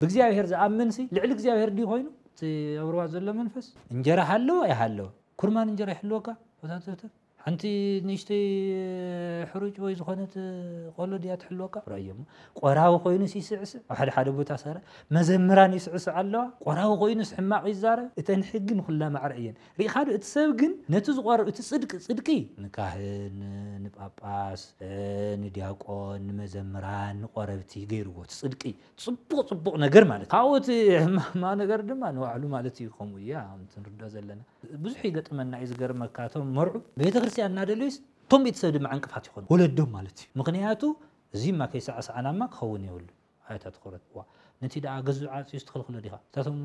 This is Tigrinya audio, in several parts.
ብእግዚኣብሔር ዝኣምንሲ ልዕሊ እግዚኣብሔር ድዩ ኮይኑ? እቲ ኣብ ሩባ ዘሎ መንፈስ እንጀራ ሃለወ ኣይሃለወ ኩርማን እንጀራ ይሕልወካ ወታተተፍ ሓንቲ ንእሽተይ ሕሩጭ ወይ ዝኾነት ቆሎ ድያ ትሕልወካ ራዮሞ ቆራዊ ኮይኑስ ይስዕስዕ ኣብ ሓደ ሓደ ቦታ ሰረ መዘምራን ይስዕስዕ ኣለዋ ቆራዊ ኮይኑስ ሕማቕ ይዛረብ እተን ሕጊ ንኹላ ማዕረ እየን ርኢኻ ዶ እቲ ሰብ ግን ነቲ ዝቆርብ እቲ ጽድቂ ጽድቂ ንካህን ንጳጳስ ንዲያቆን ንመዘምራን ንቆረብቲ ገይርዎ እቲ ጽድቂ ጽቡቅ ጽቡቅ ነገር ማለት ካብኡ እቲ ሕማማ ነገር ድማ ንባዕሉ ማለት እዩ ከምኡ እዩ ኣምቲ ንርድኦ ዘለና ብዙሕ ይገጥመና እዩ ዝገርመካ እቶም መርዑ ቤተክርስትያን እናደለዩስ እቶም ቤተሰብ ድማ ዕንቅፋት ይኾኑ ወለዶም ማለት እዩ ምክንያቱ እዚማ ከይሰዓሰዓናማ ክኸውን የብሉን ኣታ ትኹረት እዋ ነቲ ደኣ ገዙ ዓጽዩስ ትኽልክሎ ዲኻ እታቶም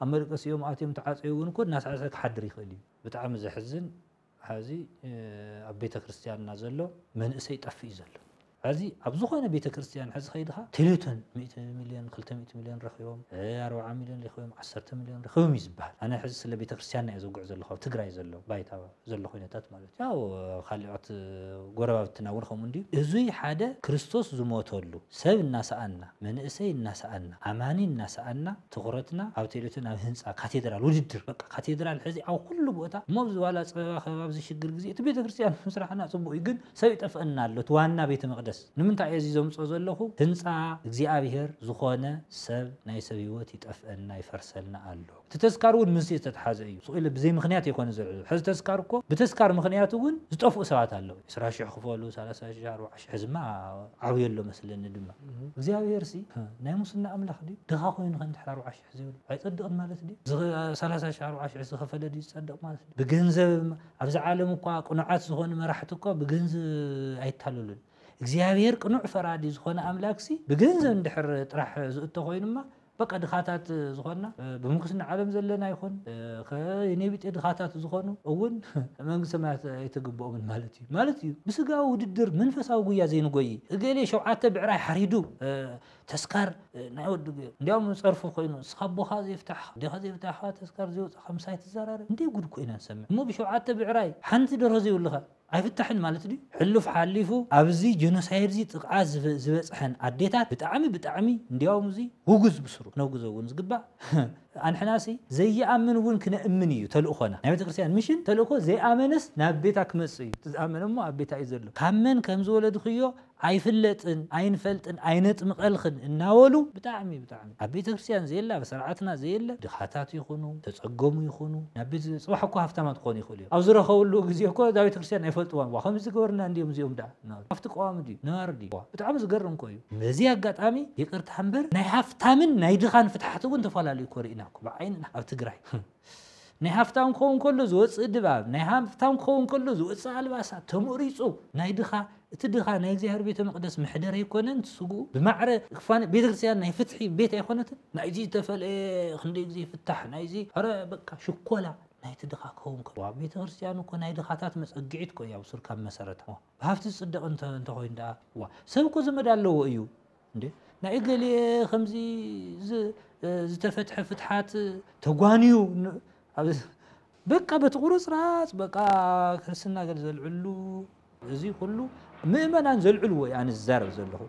ኣብ መደቀሲኦም ኣትዮም ተዓጽዩ እውን እኮ እናሰዕሰዐ ክሓድር ይኽእል እዩ ብጣዕሚ ዘሕዝን ሐዚ ኣብ ቤተክርስትያንና ዘሎ መንእሰይ ጠፍእ እዩ ዘሎ ሐዚ ኣብ ዝኾነ ቤተክርስትያን ሐዚ ከይድኻ ቴሌቶን ሚእቲ ሚልዮን ክልተ ሚእቲ ሚልዮን ረኺቦም ኣርብዓ ሚልዮን ሊኺቦም ዓሰርተ ሚልዮን ረኺቦም እዩ ዝብሃል ኣነ ሐዚ ስለ ቤተክርስትያንና እየ ዘውግዕ ዘለኹ ኣብ ትግራይ ዘሎ ባይታ ዘሎ ኩነታት ማለት እዩ ያው ካሊኦት ጎረባብትና እውን ከምኡ እንድዩ እዙይ ሓደ ክርስቶስ ዝሞተሉ ሰብ እናሰኣንና መንእሰይ እናሰኣንና ኣማኒ እናሰኣንና ትኹረትና ኣብ ቴሌቶን ኣብ ህንጻ ካቴድራል ውድድር በቃ ካቴድራል ሕዚ ኣብ ኩሉ ቦታ እሞ ኣብዚ ዋላ ጸበባ ከብ ኣብዚ ሽግር ግዜ እቲ ቤተክርስትያን ምስራሕና ጽቡቅ እዩ ግን ሰብ ይጠፍኣና ኣሎ እቲ ዋና ቤተ መቅደስ ንምንታይ እየ እዚ ዘምጾ ዘለኹ ህንጻ እግዚኣብሔር ዝኾነ ሰብ ናይ ሰብ ህይወት ይጠፍኣና ይፈርሰልና ኣሎ እቲ ተስካር እውን ምስዚ ዝተትሓዘ እዩ ስቅኢለ ብዘይ ምኽንያት ኣይኮነን ዝዕዘብ ሕዚ ተስካር እኮ ብተስካር ምኽንያት እውን ዝጠፍኡ ሰባት ኣለዉ ዕስራ ሽሕ ክፈሉ ሰላሳ ሽሕ ኣርብዓ ሕዝማ ዓብዩ ኣሎ መስለኒ ድማ እግዚኣብሔር ሲ ናይ ሙስና ኣምላኽ ድዩ ድኻ ኮይኑ ከ እንድሕር ኣርብዓ ሽሕ ዘይብሉ ኣይጸድቅን ማለት ድዩ ሰላሳ ሽሕ ኣርብዓ ሽሕ ዝኸፈለ ድዩ ዝጸድቅ ማለት ድዩ ብገንዘብ ኣብዚ ዓለም እኳ ቅኑዓት ዝኾኑ መራሕቲ እኳ ብገንዝብ ኣይታለሉን እግዚኣብሔር ቅኑዕ ፈራዲ ዝኾነ ኣምላክ ሲ ብገንዘብ እንድሕር ጥራሕ ዝእቶ ኮይኑማ በቃ ድኻታት ዝኾንና ብምንኩስና ዓለም ዘለና ይኹን ከኔ ቢጤ ድኻታት ዝኾኑ እውን መንግስቲ ሰማያት ኣይትግብኦምን ማለት እዩ ማለት እዩ ብስጋዊ ውድድር መንፈሳዊ ጉያ ዘይንጎይ እገሌ ሸውዓተ ብዕራይ ሓሪዱ ተስካር ናይ ወዲ ጉየ እንዲያውም ጸርፊ ኮይኑ እስኻ ኣቦኻ ዘይፍታሕኻ ኣዴኻ ዘይፍታሕኻ ተስካር ዘይወጻኻ ምሳይ ትዘራረብ እንዴ ጉድ ኮይና ንሰምዕ እሞ ብሸውዓተ ብዕራይ ሓንቲ ደርሆ ዘይብልኻ ኣይፍታሕን ማለት ድዩ ሕሉፍ ሓሊፉ ኣብዚ ጀኖሳይድዚ ጥቕዓት ዝበፅሐን ኣዴታት ብጣዕሚ ብጣዕሚ እንድያውም እዙይ ውጉዝ ብስሩ ክነውግዞ እውን ዝግባእ ኣንሕናሲ ዘይኣምን እውን ክነእምን እዩ ተልእኾና ናይ ቤተክርስትያን ምሽን ተልእኮ ዘይኣመነስ ናብ ቤታ ክመፅእ እዩ እቲ ዝኣመነ እሞ ኣብ ቤታ እዩ ዘሎ ካብ መን ከምዝወለድኽዮ ኣይፍለጥን ኣይንፈልጥን ኣይነጥምቀልኽን እናበሉ ብጣዕሚ ብጣዕሚ ኣብ ቤተክርስትያን ዘየለ ኣብ ሰርዓትና ዘየለ ድኻታት ይኹኑ ተፀገሙ ይኹኑ ናብ ቤት ፅባሕ እኮ ሃፍታማት ክኾኑ ይኽእሉ እዮም ኣብ ዝረኸብሉ ግዜ እኮ እዛ ቤተክርስትያን ኣይፈልጥዋን ዋእ ከምዚ ዝገበርና እንድዮም እዚኦም ዳኣ እናበሉ ሃፍቲ ቀዋሚ ድዩ ነባሪ ድዩ ዋእ ብጣዕሚ ዝገርም እኮ እዩ በዚ ኣጋጣሚ ይቅርታ እምበር ናይ ሃፍታምን ናይ ድኻን ፍትሓት እውን ተፋላልዩ እኮ ሪእና እኮ ብዓይንና ኣብ ትግራይ ናይ ሃፍታም ክኸውን ከሎ ዝወፅእ ድባብ፣ ናይ ሃፍታም ክኸውን ከሎ ዝወፅእ ኣልባሳት ተመሪፁ፣ ናይ ድኻ እቲ ድኻ ናይ እግዚኣብሔር ቤተ መቅደስ መሕደር ኣይኮነን እቲ ስግኡ ብማዕረ ክፋን ቤተ ክርስቲያን ናይ ፍትሒ ቤት ኣይኮነትን ናይዚ ዝተፈለየ ክንደይ ግዜ ይፍታሕ ናይዚ ኧረ በቃ ሽኮላ ናይቲ ድኻ ክኸውን ከ ኣብ ቤተ ክርስቲያን እኮ ናይ ድኻታት መፀግዒት እኮ እያ ሱር ካብ መሰረታ ብሃፍቲ ዝፅደቕ እንተኾይኑ ደኣ ዋ ሰብ እኮ ዘመድ ኣለዎ እዩ እንዴ ናይ እገሌ ከምዚ ዝተፈትሐ ፍትሓት ተጓንዩ በቃ በቲ ቁርፅራፅ በቃ ክርስትና ገለ ዘልዕሉ እዚ ኩሉ ምእመናን ዘልዕልዎ እዩ ኣነ ዝዛረብ ዘለኹ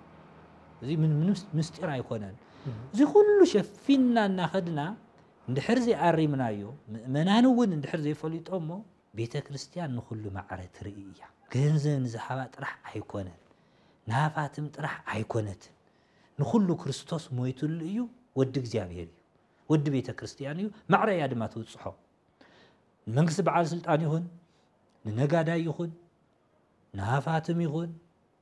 እዚ ምንም ምስጢር ኣይኮነን እዚ ኩሉ ሸፊንና እናኸድና እንድሕር ዘይኣሪምናዮ ምእመናን እውን እንድሕር ዘይፈሊጦሞ ቤተ ክርስትያን ንኹሉ ማዕረ ትርኢ እያ። ገንዘብ ንዝሃባ ጥራሕ ኣይኮነን ንሃፋትም ጥራሕ ኣይኮነትን ንኹሉ ክርስቶስ ሞይትሉ እዩ ወዲ እግዚኣብሔር እዩ ወዲ ቤተ ክርስትያን እዩ ማዕረ እያ ድማ ትብጽሖ ንመንግስቲ በዓል ስልጣን ይኹን ንነጋዳይ ይኹን ንሃፋትም ይኹን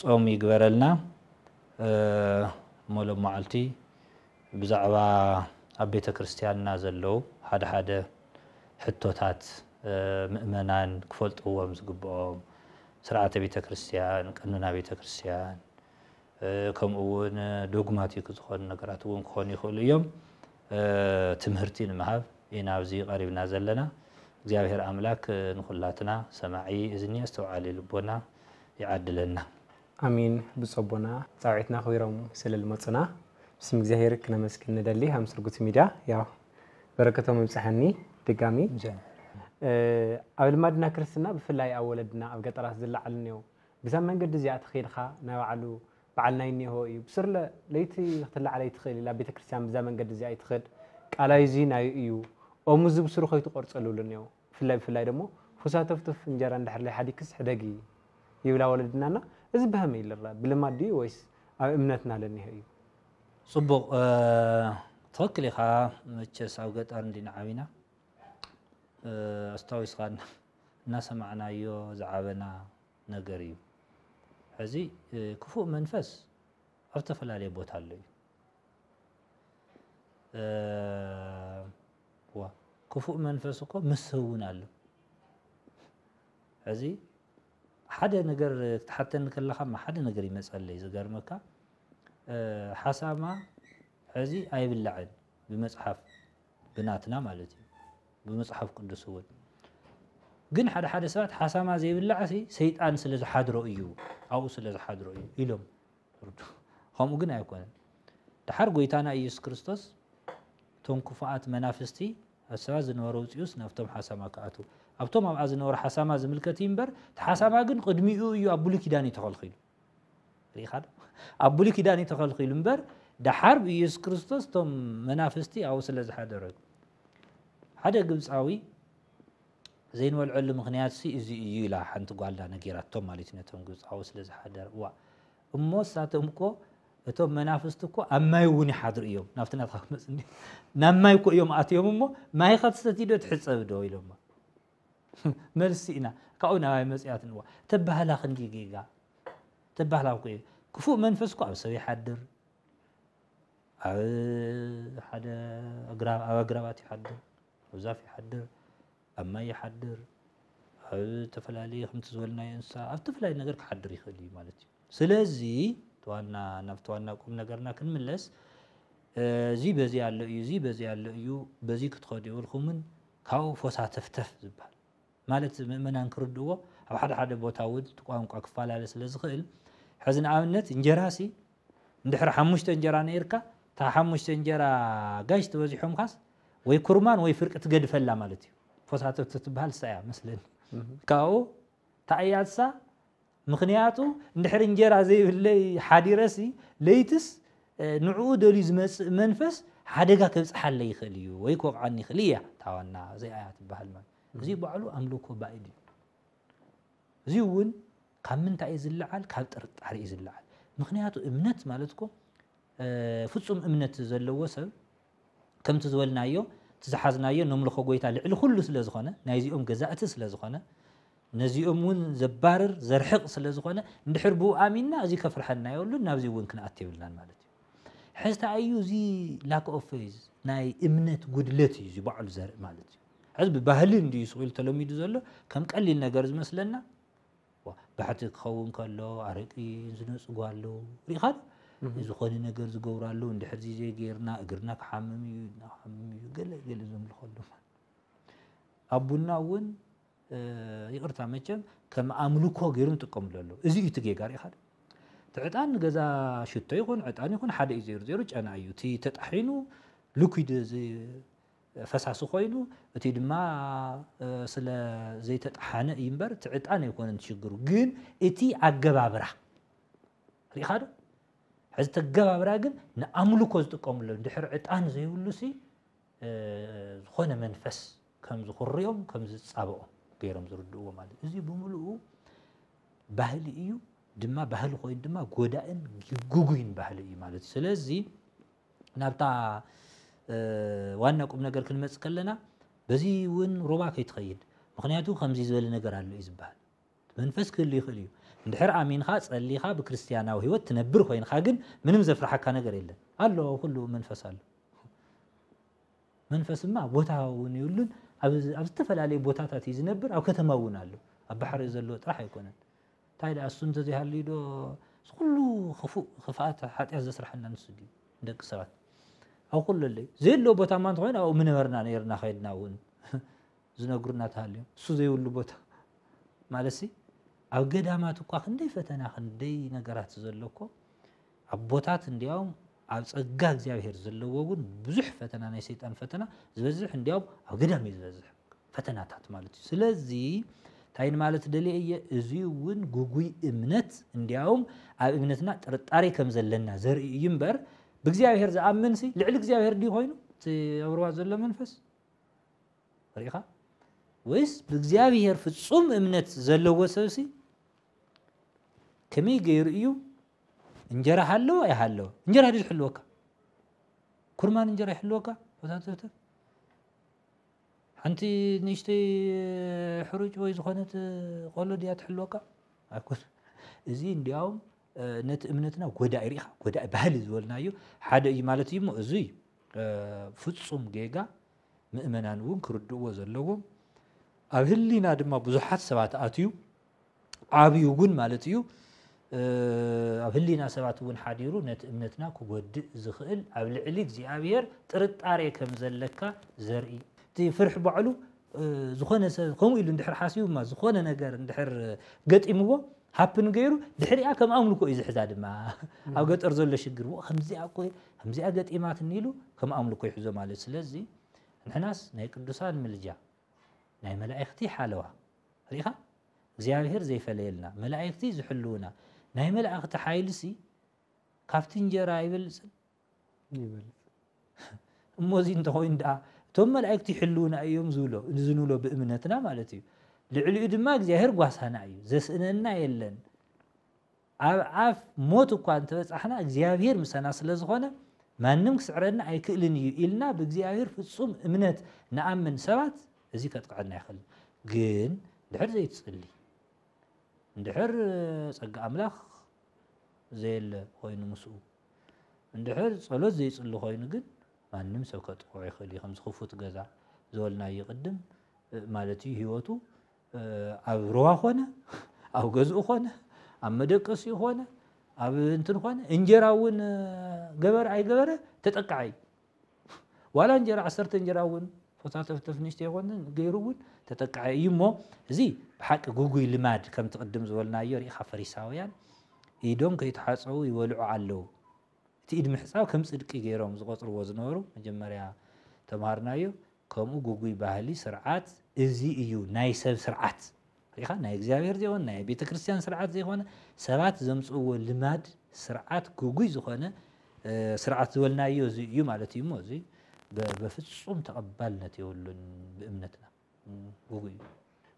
ጾም ይግበረልና እሞ ሎማዓልቲ ብዛዕባ ኣብ ቤተክርስትያንና ዘለዉ ሓደ ሓደ ሕቶታት ምእመናን ክፈልጥዎም ዝግብኦም ስርዓተ ቤተክርስትያን ቀኖና ቤተክርስትያን ከምኡ ውን ዶግማቲክ ዝኾኑ ነገራት እውን ክኾኑ ይኽእሉ እዮም ትምህርቲ ንምሃብ ኢና ኣብዚ ቀሪብና ዘለና እግዚኣብሔር ኣምላክ ንኹላትና ሰማዒ እዝኒ ኣስተውዓሊ ልቦና ይዓድለና። ኣሜን ብጾቦና ጻውዒትና ኣኽቢሮም ስለ ልመጹና ብስም እግዚኣብሔር ክነመስግን ንደሊ ሃም ስርጉት ሚድያ ያው በረከቶም ይብጽሐኒ ድጋሚ ኣብ ልማድና ክርስትና ብፍላይ ኣብ ወለድና ኣብ ገጠራት ዝለዓል እኔው ብዛ መንገዲ እዚኣ ተኸይድኻ ናይ ባዕሉ በዓል ናይ እኔሆ እዩ ብስርለ ለይቲ ክትለዓል ኣይትኽእል ኢላ ቤተክርስትያን ብዛ መንገዲ እዚኣ ኣይትኽድ ቃላይዚ ናይ እዩ ኦምዚ ብስሩ ከይትቆርጸሉ እኔው ብፍላይ ብፍላይ ደሞ ፉሳ ተፍቱፍ እንጀራ እንድሕር ለይሓዲግክስ ሕደጊ ይብላ ወለድና እና እዚ በሀመይ ልረኣ ብልማድ ድዩ ወይስ ኣብ እምነትና ለኒሀ እዩ? ጽቡቅ ትክክል ኢካ መቸስ ኣብ ገጠር እንዲና ዓቢና ኣስታዊስካ እናሰማዕናዮ ዝዓበና ነገር እዩ ሐዚ ክፉእ መንፈስ ኣብ ዝተፈላለየ ቦታ ኣሎ እዩ። ዋእ ክፉእ መንፈስ እኮ ምስ ሰብ እውን ኣሎ ሕዚ ሓደ ነገር ክትሓተኒ ከለካ ሓደ ነገር ይመፀለይ ዝገርመካ ሓሳማ ሕዚ ኣይብላዕን ብመፅሓፍ ብናትና ማለት እዩ ብመፅሓፍ ቅዱስ እውን ግን ሓደ ሓደ ሰባት ሓሳማ ዘይብላዕ ሰይጣን ስለ ዝሓድሮ እዩ ኣብኡ ስለ ዝሓድሮ እዩ ኢሎም ፍርዱ ኸምኡ ግን ኣይኮነን። ደሓር ጐይታና ኢየሱስ ክርስቶስ እቶም ክፉኣት መናፍስቲ ኣሰባ ዝነበረ ውፅኡስ ናብቶም ሓሳማ ክኣትዉ ኣብቶም ኣብኣ ዝነበሩ ሓሳማ ዝምልከት እዩ እምበር እቲ ሓሳማ ግን ቅድሚኡ እዩ ኣብ ብሉይ ኪዳን እዩ ተኸልኪሉ ርኢኻ ዶ ኣብ ብሉይ ኪዳን እዩ ተኸልኪሉ እምበር ደሓር ብኢየሱስ ክርስቶስ እቶም መናፍስቲ ኣብኡ ስለ ዝሓደረ ሓደ ግብፃዊ ዘይንበልዐሉ ምኽንያትሲ እዚ እዩ ኢላ ሓንቲ ጓልና ነጊራቶም ማለት እዩ ነቶም ግብጻዊ ስለ ዝሓደር እዋእ እሞ እሳቶም እኮ እቶም መናፍስቲ እኮ ኣብ ማይ እውን ይሓድሩ እዮም ናብቲ ናትካ ክመፅ ናብ ማይ እኮ እዮም ኣትዮም እሞ ማይ ከትሰትይ ዶ ትሕፀብ ዶ ኢሎማ መልሲ ኢና ካብኡ ናባይ መፅያት ንዋ ተባህላ ክንዲ ጌጋ ተባህላ እኮ እዩ ክፉእ መንፈስ እኮ ኣብ ሰብ ይሓድር ኣብ ሓደ ኣግራብ ኣብ ኣግራባት ይሓድር ኣብ ዛፍ ይሓድር ኣብ ማይ ይሓድር ኣብ ዝተፈላለየ ከምቲ ዝበልናዮ እንስሳ ኣብ ዝተፈላለየ ነገር ክሓድር ይኽእል እዩ ማለት እዩ ስለዚ ተዋና ናብ ተዋና ቁም ነገርና ክንምለስ እዚ በዚ ኣሎ እዩ እዚ በዚ ኣሎ እዩ በዚ ክትኸዱ የብልኩምን ካብኡ ፎሳ ተፍተፍ ዝበሃል ማለት ምእመናን ክርድዎ ኣብ ሓደ ሓደ ቦታ እውን እቲ ቋንቋ ክፈላለ ስለ ዝኽእል ሕዚ ንኣብነት እንጀራ ሲ እንድሕሪ ሓሙሽተ እንጀራ ነይርካ እታ ሓሙሽተ እንጀራ ጋሽ ተበዚሖምካስ ወይ ኩርማን ወይ ፍርቂ ትገድፈላ ማለት እዩ ፎሳቶ ትትበሃል እሳ እያ መስለኒ ካብኡ ታእያ እሳ ምክንያቱ እንድሕር እንጀራ ዘይብለይ ሓዲረሲ ለይትስ ንዕኡ ደልዩ ዝመፅእ መንፈስ ሓደጋ ከብፅሓለይ ይኽእል እዩ ወይ ክወቕዓኒ ይኽእል እያ ታዋና እዚኣ እያ ትበሃል ማለት እዚ ባዕሉ ኣምልኮ ባእድ እዩ እዚ እውን ካብ ምንታይ እዩ ዝለዓል ካብ ጥርጣሪ እዩ ዝለዓል ምክንያቱ እምነት ማለት እኮ ፍፁም እምነት ዘለዎ ሰብ ከምቲ ዝበልናዮ እቲ ዝሓዝናዮ ነምልኾ ጎይታ ልዕሊ ኩሉ ስለ ዝኾነ ናይዚኦም ገዛእቲ ስለ ዝኾነ ነዚኦም እውን ዘባርር ዘርሕቕ ስለ ዝኾነ እንድሕር ብኡ ኣሚንና እዚ ከፍርሐና የብሉን ናብዚ እውን ክንኣት የብልናን ማለት እዩ ሕዝቲ ኣዩ እዚ ላክ ኦፍ ፌዝ ናይ እምነት ጉድለት እዩ እዚ ባዕሉ ዘርኢ ማለት እዩ ሕዚ ብባህሊ እንድዩ ስቑኢሉ ተለሚዱ ዘሎ ከም ቀሊል ነገር ዝመስለና ባሕቲ ክኸውን ከሎ ኣረቂ ዝነፅጓሉ ሪኢኻ ዶ? ዝኾነ ነገር ዝገብራሉ እንድሕር ዚዜ ጌርና እግርና ክሓምም እዩ ኢድና ክሓምም እዩ ገለ ገለ ዘምልኸሉ ኣብ ቡና እውን ይቕርታ መቸም ከም ኣምልኮ ገይሩ ንጥቀምሉ ኣለዉ እዚ እዩ እቲ ጌጋ ሪኢኻ ዶ እቲ ዕጣን ገዛ ሽቶ ይኹን ዕጣን ይኹን ሓደ እዩ ዜሩ ዜሩ ጨና እዩ እቲ ተጣሒኑ ልኩድ ፈሳሲ ኮይኑ እቲ ድማ ስለ ዘይተጠሓነ እዩ እምበር እቲ ዕጣን ኣይኮነን ትሽግሩ ግን እቲ ኣገባብራ ሪኢኻ ዶ ሕዚ ተገባብራ ግን ንኣምልኮ ዝጥቀምሉ ድሕሪ ዕጣን ዘይብሉ ሲ ዝኾነ መንፈስ ከም ዝኹርዮም ከም ዝጻበኦም ገይሮም ዝርድእዎ ማለት እዚ ብምልኡ ባህሊ እዩ ድማ ባህሊ ኮይኑ ድማ ጎዳእን ግጉይን ባህሊ እዩ ማለት ስለዚ ናብታ ዋና ቁምነገር ክንመጽእ ከለና በዚ እውን ሩባ ከይትኸይድ ምኽንያቱ ከምዚ ዝበለ ነገር ኣሎ እዩ ዝበሃል መንፈስ ክህሉ ይኽእል እዩ እንድሕር ኣሚንኻ ጸሊኻ ብክርስትያናዊ ህይወት ትነብር ኮይንኻ ግን ምንም ዘፍርሓካ ነገር የለን ኣሎ ኩሉ መንፈስ ኣሎ መንፈስማ ቦታ እውን ይብሉን ኣብ ዝተፈላለዩ ቦታታት እዩ ዝነብር ኣብ ከተማ እውን ኣሎ ኣብ ባሕሪ ዘሎ ጥራሕ ኣይኮነን ታይ ደኣ እሱ እንተዘይሃልዩ ዶ እዚ ኩሉ ክፉእ ክፍኣት ሓጥያት ዘስርሓና ንሱ ድዩ ንደቂ ሰባት ኣብ ኩለለይ ዘየለዎ ቦታ እማ እንተኮይኑ ኣብኡ ምነበርና ነይርና ከይድና እውን ዝነግሩና ተሃልዮም እሱ ዘይብሉ ቦታ ማለትሲ ኣብ ገዳማት እኳ ክንደይ ፈተና ክንደይ ነገራት ዘሎ እኮ ኣቦታት እንዲያውም ኣብ ጸጋ እግዚኣብሔር ዘለዎ እውን ብዙሕ ፈተና ናይ ሰይጣን ፈተና ዝበዝሕ እንዲያውም ኣብ ገዳም እዩ ዝበዝሕ ፈተናታት ማለት እዩ ስለዚ እንታይ ንማለት ደልየ እየ እዚ እውን ጉጉይ እምነት እንዲያውም ኣብ እምነትና ጥርጣሬ ከም ዘለና ዘርኢ እዩ እምበር ብእግዚኣብሔር ዝኣምን ሲ ልዕሊ እግዚኣብሔር ድዩ ኮይኑ እቲ ኣብርዋ ዘሎ መንፈስ ርኢኻ ወይስ ብእግዚኣብሔር ፍጹም እምነት ዘለዎ ሰብሲ ከመይ ገይሩ እዩ እንጀራ ሃለወ ኣይሃለወ እንጀራ ድዩ ዝሕልወካ ኩርማን እንጀራ ይሕልወካ ወታደርተር ሓንቲ ንእሽተይ ሕሩጭ ወይ ዝኾነት ቆሎ ድያ ትሕልወካ ኣይኮነ እዚ እንዲያውም ነቲ እምነትና ጎዳኢ ርኢኻ ጎዳኢ ባህሊ ዝበልናዮ ሓደ እዩ ማለት እዩ እሞ እዚ ፍፁም ጌጋ ምእመናን እውን ክርድእዎ ዘለዎም ኣብ ህሊና ድማ ብዙሓት ሰባት ኣትዩ ዓብዩ እውን ማለት እዩ ኣብ ህሊና ሰባት እውን ሓዲሩ ነቲ እምነትና ክጎድእ ዝኽእል ኣብ ልዕሊ እግዚኣብሔር ጥርጣሬ ከም ዘለካ ዘርኢ እቲ ፍርሒ ባዕሉ ዝኾነ ሰብ ከምኡ ኢሉ እንድሕር ሓሲቡማ ዝኾነ ነገር እንድሕር ገጢምዎ ሃፕን ገይሩ ድሕሪኣ ከም ኣምልኮ እዩ ዝሕዛ ድማ ኣብ ገጠር ዘሎ ሽግር ከምዚኣ እኮ ከምዚኣ ገጢማትኒ ኢሉ ከም ኣምልኮ ይሕዞ ማለት ስለዚ ንሕናስ ናይ ቅዱሳን ምልጃ ናይ መላእኽቲ ሓለዋ ርኢኻ እግዚኣብሄር ዘይፈለየልና መላኢክቲ ዝሕልዉና ናይ መላእክቲ ሓይልሲ ካብቲ እንጀራ ኣይበልጽን ይበልጽ እሞ እዚ እንተኾይኑ ደኣ እቶም መላእክቲ ይሕልዉና እዮም ዝብሎ እዚ ንብሎ ብእምነትና ማለት እዩ ልዕሊኡ ድማ እግዚኣብሄር ጓሳና እዩ ዘስእነና የለን ኣብ ኣፍ ሞት እኳ እንተ በጻሕና፣ እግዚኣብሄር ምሳና ስለ ዝዀነ፣ ማንም ክስዕረና ኣይክእልን እዩ ኢልና ብእግዚኣብሄር ፍጹም እምነት ንኣምን ሰባት፣ እዚ ከጥቅዐና ኣይክእልን። ግን እንድሕር ዘይትጽሊ፣ እንድሕር ጸጋ ኣምላኽ ዘየለ ዀይኑ ምስኡ፣ እንድሕር ጸሎት ዘይጽሊ ዀይኑ ግን ማንም ሰብ ከጥቅዖ ይኽእል እዩ። ከምዚ ክፉት ገዛ ዝበልናዮ ቅድም ማለት እዩ ህይወቱ ኣብ ሩባ ኮነ ኣብ ገዝኡ ኮነ ኣብ መደቀሲኡ ኮነ ኣብ እንትን ኮነ እንጀራ እውን ገበረ ኣይገበረ ተጠቃዓይ ዋላ እንጀራ ዓሰርተ እንጀራ እውን ፎታተፍተፍ ንሽተ ይኮነ ገይሩ እውን ተጠቃዓይ እዩ እሞ እዚ ብሓቂ ጉጉይ ልማድ ከምቲ ቅድም ዝበልናዮ ርኢኻ ፈሪሳውያን ኢዶም ከይተሓፀቡ ይበልዑ ኣለዉ እቲ ኢድ ምሕጻብ ከም ጽድቂ ገይሮም ዝቖጽርዎ ዝነበሩ መጀመርያ ተማሃርናዮ ከምኡ ግጉይ ባህሊ ስርዓት እዚ እዩ ናይ ሰብ ስርዓት ርኢኻ ናይ እግዚኣብሔር ዘይኮነ ናይ ቤተ ክርስቲያን ስርዓት ዘይኮነ ሰባት ዘምጽእዎ ልማድ ስርዓት ግጉይ ዝኾነ ስርዓት ዝበልናዮ እዚ እዩ ማለት እዩ እሞ እዚ በፍጹም ተቐባልነት የብሉን ብእምነትና እዩ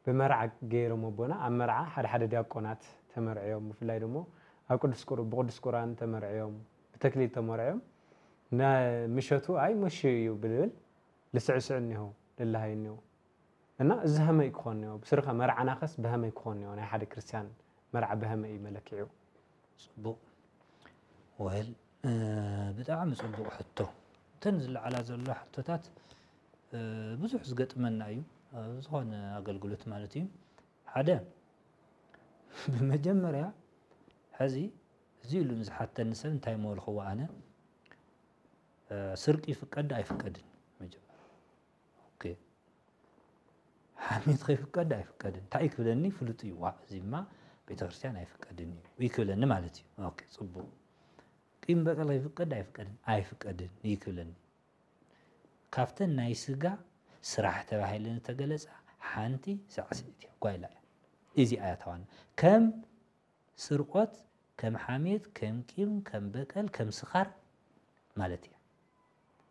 ብመርዓ ገይሮም ኣቦና ኣብ መርዓ ሓደ ሓደ ዲያቆናት ተመርዕዮም ብፍላይ ደሞ ኣብ ቅዱስ ቁር ብቅዱስ ቁራን ተመርዕዮም ብተክሊል ተመርዕዮም ምሸቱ ኣይ መሹ እዩ ብልብል ልስዕስዑ እኒሆ ልልሃዩ እኒሆ እና እዚ ሃመይ ክኾን እኒሆ ብስርካ መርዓናኸስ ብሃመይ ክኾን እኒሆ ናይ ሓደ ክርስትያን መርዓ ብሃመይ እዩ መለክዒኡ ጽቡቕ ወል ብጣዕሚ ጽቡቕ ሕቶ እተን ዝለዓላ ዘሎ ሕቶታት ብዙሕ ዝገጥመና እዩ ዝኾነ ኣገልግሎት ማለት እዩ ሓደ ብመጀመርያ ሕዚ እዚ ኢሉ ንዝሓተኒ ሰብ እንታይ መበልክዎ ኣነ ስርቂ ይፍቀድ ኣይፍቀድን መጀመርያ ኦኬ ሓሜትኸ ይፍቀድ ኣይፍቀድን እንታይ ክብለኒ ፍሉጥ እዩ ዋ እዚማ ቤተክርስትያን ኣይፍቀድን እዩ እዩ ክብለኒ ማለት እዩ ኦኬ ፅቡቅ ቂም በቀል ይፍቀድ ኣይፍቀድን ኣይፍቀድን እዩ ክብለኒ ካብተን ናይ ስጋ ስራሕ ተባሂለን ዝተገለፃ ሓንቲ ሳዕስዒት እያ ጓይላ እያ እዚኣ እያ ተዋና ከም ስርቆት ከም ሓሜት ከም ቂም ከም በቀል ከም ስኻር ማለት እያ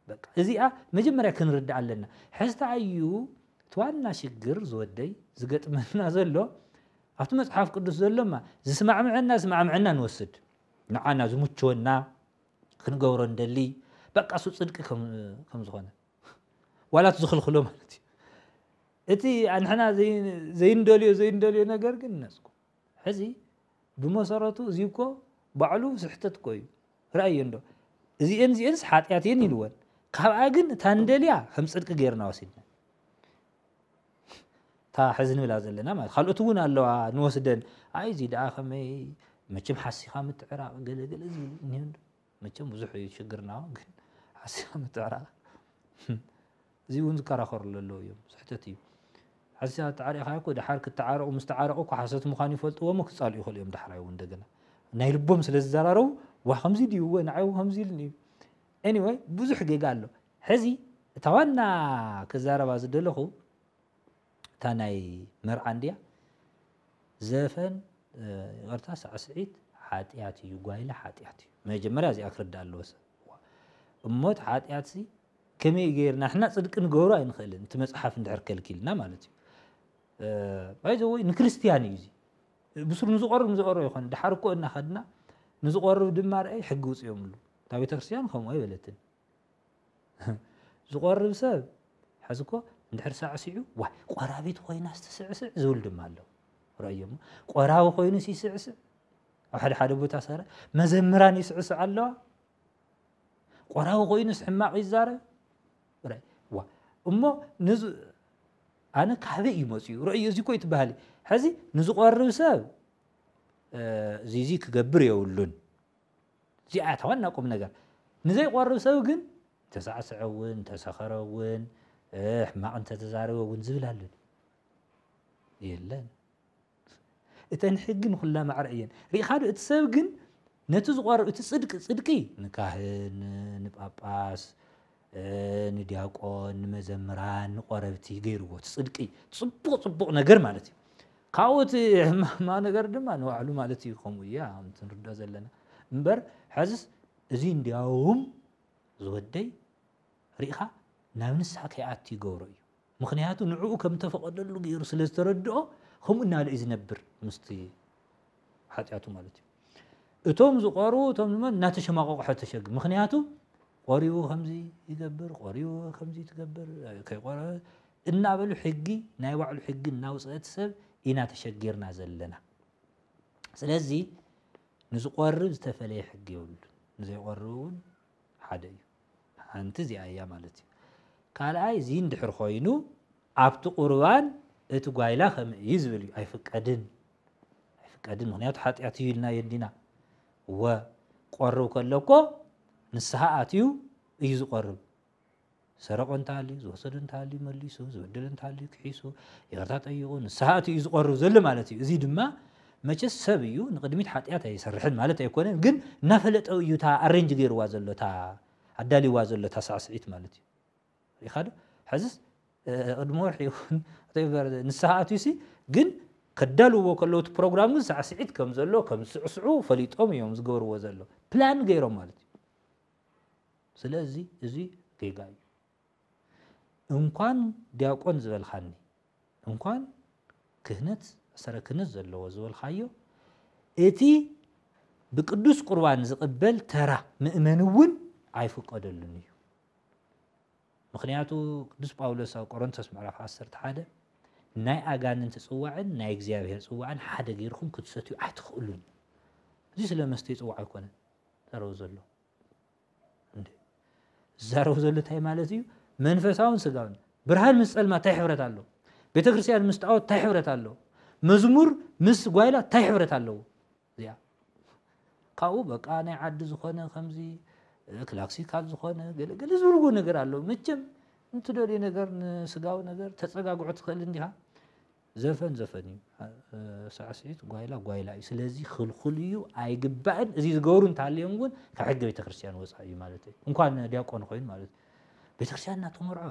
በቃ እዚኣ መጀመርያ ክንርዳኣ ኣለና ሕዝቲ ኣዩ ትዋና ሽግር ዝወደይ ዝገጥመና ዘሎ ኣብቲ መጽሓፍ ቅዱስ ዘሎማ ዝስማዕምዐና ስማዕምዐና ንወስድ ንዓና ዝሙችወና ክንገብሮ ንደሊ በቃ እሱ ፅድቂ ከም ዝኾነ ዋላት ዝኽልክሎ ማለት እዩ እቲ ኣንሕና ዘይንደልዮ ዘይንደልዮ ነገር ግን ነስኩ ሕዚ ብመሰረቱ እዚ እኮ ባዕሉ ስሕተት እኮ እዩ ርኣዮ እንዶ እዚኤን እዚኤንስ ሓጢኣት እየን ኢልወን ካብኣ ግን እታ ንደልያ ከም ፅድቂ ገይርና ወሲድና እታ ሕዚ ንብላ ዘለና ማለት ካልኦት እውን ኣለዋ ንወስደን ኣይ እዚ ደኣ ከመይ መቸም ሓሲኻ ምትዕራቕ ገለገለ ዝብል እኒሆ እንዶ መቸም ብዙሕ እዩ ሽግርና ግን ሓሲኻ ምትዕራቕ እዚ እውን ዝከራኸርሉ ኣለዉ እዮም ስሕተት እዩ ሓሲኻ ተዓሪቕካ እኮ ድሓር ክተዓረቑ ምስ ተዓረቑ እኮ ሓሶት ምዃኑ ይፈልጥዎ እሞ ክጻልኡ ይኽእሉ እዮም ዳሕራይ እውን እንደገና ናይ ልቦም ስለ ዝዘራረቡ ዋ ከምዚ ድዩ ወ ንዓይ ከምዚ ኢሉኒ እዩ ኤኒወይ ብዙሕ ጌጋ ኣሎ ሕዚ እታ ዋና ክዛረባ ዝደለኹ እታ ናይ መርዓ እንድያ ዘፈን ይቅርታ ሳዕስዒት ሓጥያት እዩ ጓይላ ሓጥያት እዩ መጀመርያ እዚኣ ክርዳእ ኣለዎ ሰብ እሞት ሓጢኣት ሲ ከመይ ገይርና ንሕና ፅድቂ ንገብሮ ኣይንኽእልን እቲ መፅሓፍ እንድሕር ከልኪልና ማለት እዩ ባይዘ ወይ ንክርስትያን እዩ እዚ ብስሩ ንዝቆርብ ንዝቆሮ ይኮነ ድሓር እኮ እናኸድና ንዝቆርብ ድማ ርአይ ሕጊ ውፅኦምሉ እታ ቤተክርስትያን ከምኡ ኣይበለትን ዝቖርብ ሰብ ሕዚ እኮ እንድሕር ሳዕሲዑ ዋይ ቆራቢት ኮይናስ ትስዕስዕ ዝብል ድማ ኣሎ ረእዮሞ ቆራቢ ኮይኑስ ይስዕስዕ ኣብ ሓደ ሓደ ቦታ ሰረ መዘምራን ይስዕስዕ ኣለዋ ቆራቢ ኮይኑስ ሕማቕ ይዛረብ ዋ እሞ ንዝ ኣነ ካበይ እዩ መፅኡ ረእዮ እዚ ኮይ ትበሃል ሕዚ ንዝቆርብ ሰብ እዚዚ ክገብር የብሉን እዚኣ እያ እታ ዋና ቁምነገር። ንዘይቆርብ ሰብ ግን እንተሳዕሰዐ እውን፣ እንተሰኸረ እውን፣ ሕማቕ እንተተዛረበ እውን ዝብል ኣሎ ድዩ? የለን። እተን ሕጊ ንኹላ ማዕረ እየን። ርኢኻ ዶ እቲ ሰብ ግን ነቲ ዝቆርብ እቲ ጽድቂ ጽድቂ ንካህን ንጳጳስ ንድያቆን ንመዘምራን ንቆረብቲ ገይርዎ እቲ ጽድቂ ጽቡቕ ጽቡቕ ነገር ማለት እዩ ካብኡ እቲ ሕማማ ነገር ድማ ንባዕሉ ማለት እዩ ከምኡ እያ ከምቲ ንርድኦ ዘለና እምበር ሕዝስ እዚ እንዲያውም ዝወደይ ርኢኻ ናብ ንስሓ ከይኣቱ ይገብሮ እዩ ምክንያቱ ንዕኡ ከም ተፈቐደሉ ገይሩ ስለ ዝተረድኦ ከምኡ እናለ እዩ ዝነብር ምስቲ ሓጢኣቱ ማለት እዩ እቶም ዝቆርቡ እቶም ድማ እናተሸማቐቑ ሕተሸግ ምክንያቱ ቆሪቡ ከምዚ ይገብር ቆሪቡ ከምዚ ትገብር ከይቆረ እናበሉ ሕጊ ናይ ባዕሉ ሕጊ እናውፅአት ሰብ ኢና ተሸጊርና ዘለና ስለዚ ንዝቆርብ ዝተፈለየ ሕጊ የብሉን ንዘይቆርብ እውን ሓደ እዩ ሓንቲ እዚኣ እያ ማለት እዩ ካልኣይ እዚ እንድሕር ኮይኑ ኣብቲ ቁርባን እቲ ጓይላ ከምእ እዩ ዝብል እዩ ኣይፍቀድን ኣይፍቀድን ምክንያቱ ሓጢኣት እዩ ኢልና የዲና እወ ቆርብ ከሎ እኮ ንስሓ ኣትዩ እዩ ዝቆርብ ዝሰረቆ እንተሃልዩ ዝወሰደ እንተሃልዩ መሊሱ ዝበደለ እንተሃልዩ ክሒሱ ይቅርታ ጠይቁ ንስሓ እቲ እዩ ዝቆርብ ዘሎ ማለት እዩ እዚ ድማ መቸስ ሰብ እዩ ንቅድሚት ሓጢኣት ኣይሰርሕን ማለት ኣይኮነን ግን እናፈለጠ እዩ እታ ኣሬንጅ ገይርዋ ዘሎ እታ ኣዳልይዋ ዘሎ እታ ሳዕስዒት ማለት እዩ ኢኻ ዶ ሕዝስ ቅድሚ ወርሒ ይኹን ወተቨር ንስሓ ኣትዩሲ ግን ከዳልውዎ ከለዉ እቲ ፕሮግራም ግን ሳዕስዒት ከም ዘሎ ከም ዝስዕስዑ ፈሊጦም እዮም ዝገብርዎ ዘሎ ፕላን ገይሮም ማለት እዩ ስለዚ እዚ ጌጋ እዩ እንኳን ዲያቆን ዝበልካኒ እንኳን ክህነት ሰረ ክህነት ዘለዎ ዝበልካዮ እቲ ብቅዱስ ቁርባን ዝቕበል ተራ ምእመን እውን ኣይፍቀደሉን እዩ ምኽንያቱ ቅዱስ ጳውሎስ ኣብ ቆሮንቶስ ምዕራፍ ዓሰርተ ሓደ ናይ ኣጋንንቲ ጽዋዕን ናይ እግዚኣብሔር ጽዋዕን ሓደ ገይርኩም ክትሰትዩ ኣይትኽእሉን እዩ። እዚ ስለ መስተይ ጽዋዕ ኣይኮነን ዛረቡ ዘሎ እንዴ ዛረቡ ዘሎ እንታይ ማለት እዩ? መንፈሳውን ስጋውን ብርሃን ምስ ጸልማ እንታይ ሕብረት ኣሎ? ቤተ ክርስቲያን ምስ ጣዖት እንታይ ሕብረት ኣሎ? መዝሙር ምስ ጓይላ እንታይ ሕብረት ኣለዎ? እዚኣ ካብኡ በቃ ናይ ዓዲ ዝኾነ ከምዚ ክላክሲካል ዝኾነ ገለ ገለ ዝብልዎ ነገር ኣሎ መቸም እንትደልዩ ነገር ንስጋዊ ነገር ተፀጋግዖ ትኽእል እንዲኻ ዘፈን ዘፈን እዩ ሳዕስዒት ጓይላ ጓይላ እዩ ስለዚ ክልኩል እዩ ኣይግባእን እዚ ዝገብሩ እንተሃልዮም እውን ካብ ሕገ ቤተክርስትያን ወፃእ እዩ ማለት እዩ እንኳን ዲያቆን ኮይኑ ማለት እዩ ቤተክርስትያን እናተመርዖ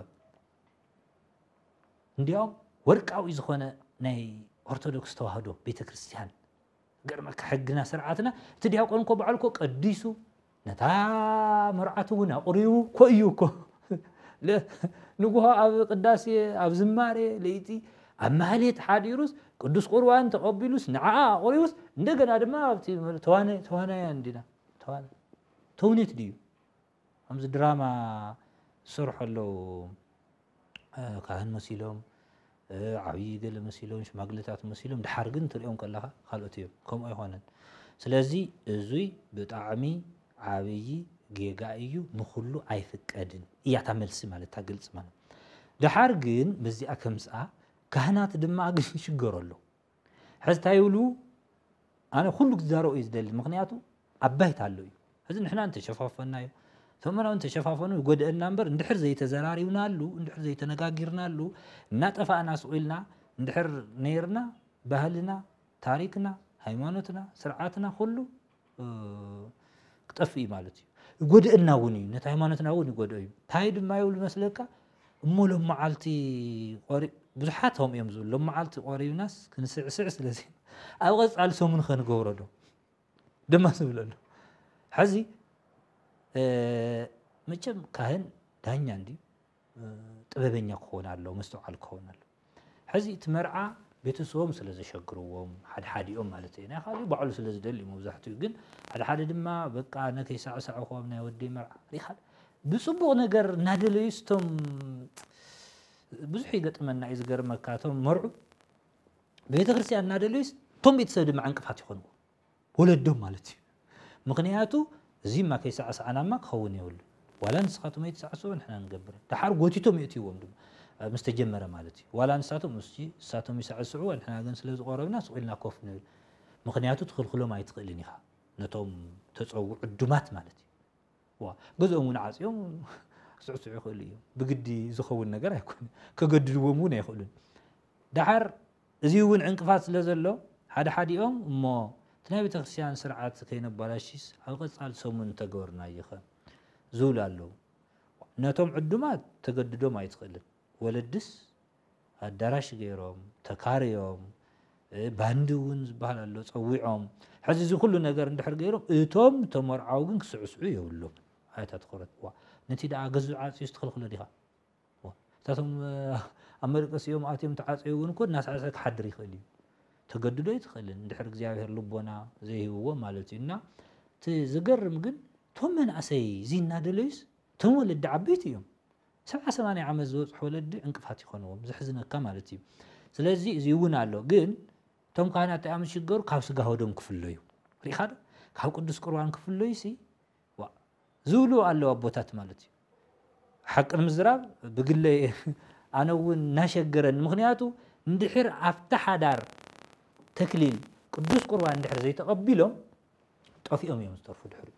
እንዲያውም ወርቃዊ ዝኾነ ናይ ኦርቶዶክስ ተዋህዶ ቤተክርስትያን ይገርመካ ሕግና ስርዓትና እቲ ዲያቆን እኮ ባዕሉ እኮ ቀዲሱ ነታ መርዓቱ እውን ኣቑሪቡ እኮ እዩ እኮ ንጉሆ ኣብ ቅዳሴ ኣብ ዝማሬ ለይቲ ኣብ ማህሌት ሓዲሩስ ቅዱስ ቁርባን ተቐቢሉስ ንዓኣ ኣቑሪቡስ እንደገና ድማ ኣብቲ ተዋናያን ዲና ተውኔት ድዩ ከምዚ ድራማ ዝሰርሑ ኣለው ካህን መሲሎም ዓብይ ገለ መሲሎም ሽማግሌታት መሲሎም ድሓር ግን ትሪኦም ከለኻ ካልኦት እዮም ከምኡ ኣይኮነን ስለዚ እዙይ ብጣዕሚ ዓብይ ጌጋ እዩ ንኹሉ ኣይፍቀድን እያ እታ መልሲ ማለት እታ ግልፂ ማለት ድሓር ግን በዚኣ ከምፅኣ ካህናት ድማ ግን ይሽገሩ ኣለው ሕዚ እንታይ ይብሉ ኣነ ኩሉ ክዛረኦ እዩ ዝደሊ ምክንያቱ ኣብ ባይታ ኣሎ እዩ እዚ ንሕና እንተሸፋፈናዮ ተመናዊ እንተሸፋፈኑ ይጎድአና እምበር እንድሕር ዘይተዘራሪብናሉ እንድሕር ዘይተነጋጊርናሉ እናጠፋእና ስቑኢልና እንድሕር ነይርና ባህልና ታሪክና ሃይማኖትና ስርዓትና ኩሉ ክጠፍእ እዩ ማለት እዩ ይጎድእና እውን እዩ ነቲ ሃይማኖትና እውን ይጎድኦ እዩ እንታይ ድማ ይብሉ መስለካ እሞ ሎም መዓልቲ ብዙሓት ም እዮም ዝብሉ ሎም መዓልቲ ቆሪብናስ ክንስዕስዕ ስለዚ ኣብ ቀፃሊ ሰሙን ከንገብሮ ዶ ድማ ዝብለ ኣሎ ሕዚ መቸም ካህን ዳኛ እንድዩ ጥበበኛ ክኸውን ኣለዎ፣ መስተውዓል ክኸውን ኣለዎ። ሕዚ እቲ መርዓ ቤተሰቦም ስለ ዘሸግርዎም ሓድሓዲኦም ማለት እዩ ናይ ካልእ ባዕሉ ስለ ዝደሊ እዩ መብዛሕትኡ ግን ሓድሓደ ድማ በቃ ነከይሳዕሳዕኹ ኣብ ናይ ወዲ መርዓ ሪኻ ብፅቡቕ ነገር እናደለዩ ስቶም ብዙሕ ይገጥመና እዩ ዝገርመካ እቶም መርዑ ቤተ ክርስቲያን እናደለዩ እቶም ቤተሰብ ድማ ዕንቅፋት ይኾንዎ ወለዶም ማለት እዩ ምኽንያቱ እዚ እማ ከይሳዕሳዕና እማ ክኸውን የብሉ ዋላ ንስኻቶም ኣይትሳዕስዑ ንሕና ንገብር ደሓር ጎቲቶም የእትይዎም ድማ ምስ ተጀመረ ማለት እዩ ዋላ ንሳቶም እስቲ ንሳቶም ይሳዕስዑ ንሕና ግን ስለ ዝቆረብና ስቕ ኢልና ኮፍ ንብል ምኽንያቱ ትኽልክሎም ኣይትኽእልን ኢኻ ነቶም ተፀውዑ ዕዱማት ማለት እዩ እዋ ገዝኦም እውን ዓጽዮም ክስዕስዑ ይኽእሉ እዮም። ብግዲ ዝኸውን ነገር ኣይኮነ ከገድድዎም እውን ኣይኽእሉን። ደሓር እዚ እውን ዕንቅፋት ስለ ዘሎ ሓደ ሓዲኦም እሞ እቲ ናይ ቤተ ክርስቲያን ስርዓት ከይነባላሽስ ኣብ ቐጻሊ ሰሙን ተገበርናዮኸ ዝብሉ ኣለዉ። ነቶም ዕዱማት ተገድዶም ኣይትኽእልን ወለድስ ኣዳራሽ ገይሮም ተካርዮም ባንዲ እውን ዝበሃል ኣሎ ፀዊዖም ሕዚ እዚ ኩሉ ነገር እንድሕር ገይሮም እቶም ተመርዓው ግን ክስዕስዑ የብሎም ኣያታ ትኩረት ዋ ነቲ ደኣ ገዙ ዓፅዩ ዝትኽልክሎ ዲኻ እታቶም ኣብ መደቀሲ እዮም ኣትዮም ተዓፀዩ እውን እኮ እናሳዕሰ ክሓድር ይኽእል እዩ ተገድዶ ኣይትኽእልን እንድሕር እግዚኣብሔር ልቦና ዘይህብዎ ማለት እዩ እና እቲ ዝገርም ግን እቶም መናእሰይ እዚ እናደለዩስ እቶም ወለዲ ዓበይቲ እዮም ሰብዓ ሰማንያ ዓመት ዝበጽሑ ወለዲ ዕንቅፋት ይኾንዎም ዘሕዝነካ ማለት እዩ ስለዚ እዚ እውን ኣሎ ግን እቶም ካህናት እንታይ እዮም ዝሽገሩ ካብ ስጋ ወደም ክፍለዩ ሪኢኻ ዶ ካብ ቅዱስ ቁርባን ክፍለዩ ሲ ዋ ዝብሉ ኣለዉ ኣቦታት ማለት እዩ ሓቂ ንምዝራብ ብግለ ኣነ እውን እናሸገረኒ ምክንያቱ እንድሕር ኣብቲ ሓዳር ተክሊል ቅዱስ ቁርባን እንድሕር ዘይተቐቢሎም ጠፊኦም እዮም ዝተርፉ ድሕሪኡ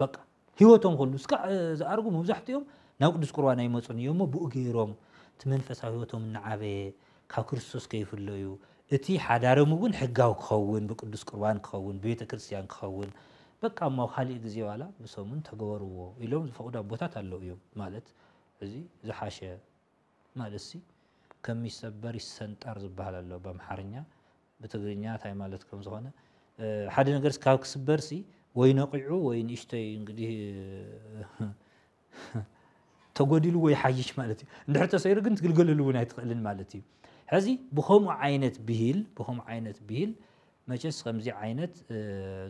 በቃ ህይወቶም ኩሉ እስካዕ ዝኣርጉ መብዛሕትኦም ናብ ቅዱስ ቁርባን ኣይመፁን እዮም እሞ ብኡ ገይሮም እቲ መንፈሳዊ ህይወቶም እናዓበየ ካብ ክርስቶስ ከይፍለዩ እቲ ሓዳሮም እውን ሕጋዊ ክኸውን ብቅዱስ ቁርባን ክኸውን ብቤተ ክርስቲያን ክኸውን በቃ እሞ ካሊእ ግዜ ዋላ ብሰሙን ተገበርዎ ኢሎም ዝፈቅዱ ኣቦታት ኣለው እዮም ማለት እዚ ዝሓሸ ማለትሲ ከም ይሰበር ይሰንጠር ዝበሃል ኣሎ በምሓርኛ ብትግርኛ ታይ ማለት ከም ዝኾነ ሓደ ነገርስ ካብ ክስበርሲ ወይ ነቒዑ ወይ ንእሽተይ እንግዲህ ተጎዲልዎ ይሓይሽ ማለት እዩ እንድሕር ተሰይሩ ግን ትግልገለሉ እውን ኣይትኽእልን ማለት እዩ ሕዚ ብከምኡ ዓይነት ብሂል ብከምኡ ዓይነት ብሂል መቸስ ከምዚ ዓይነት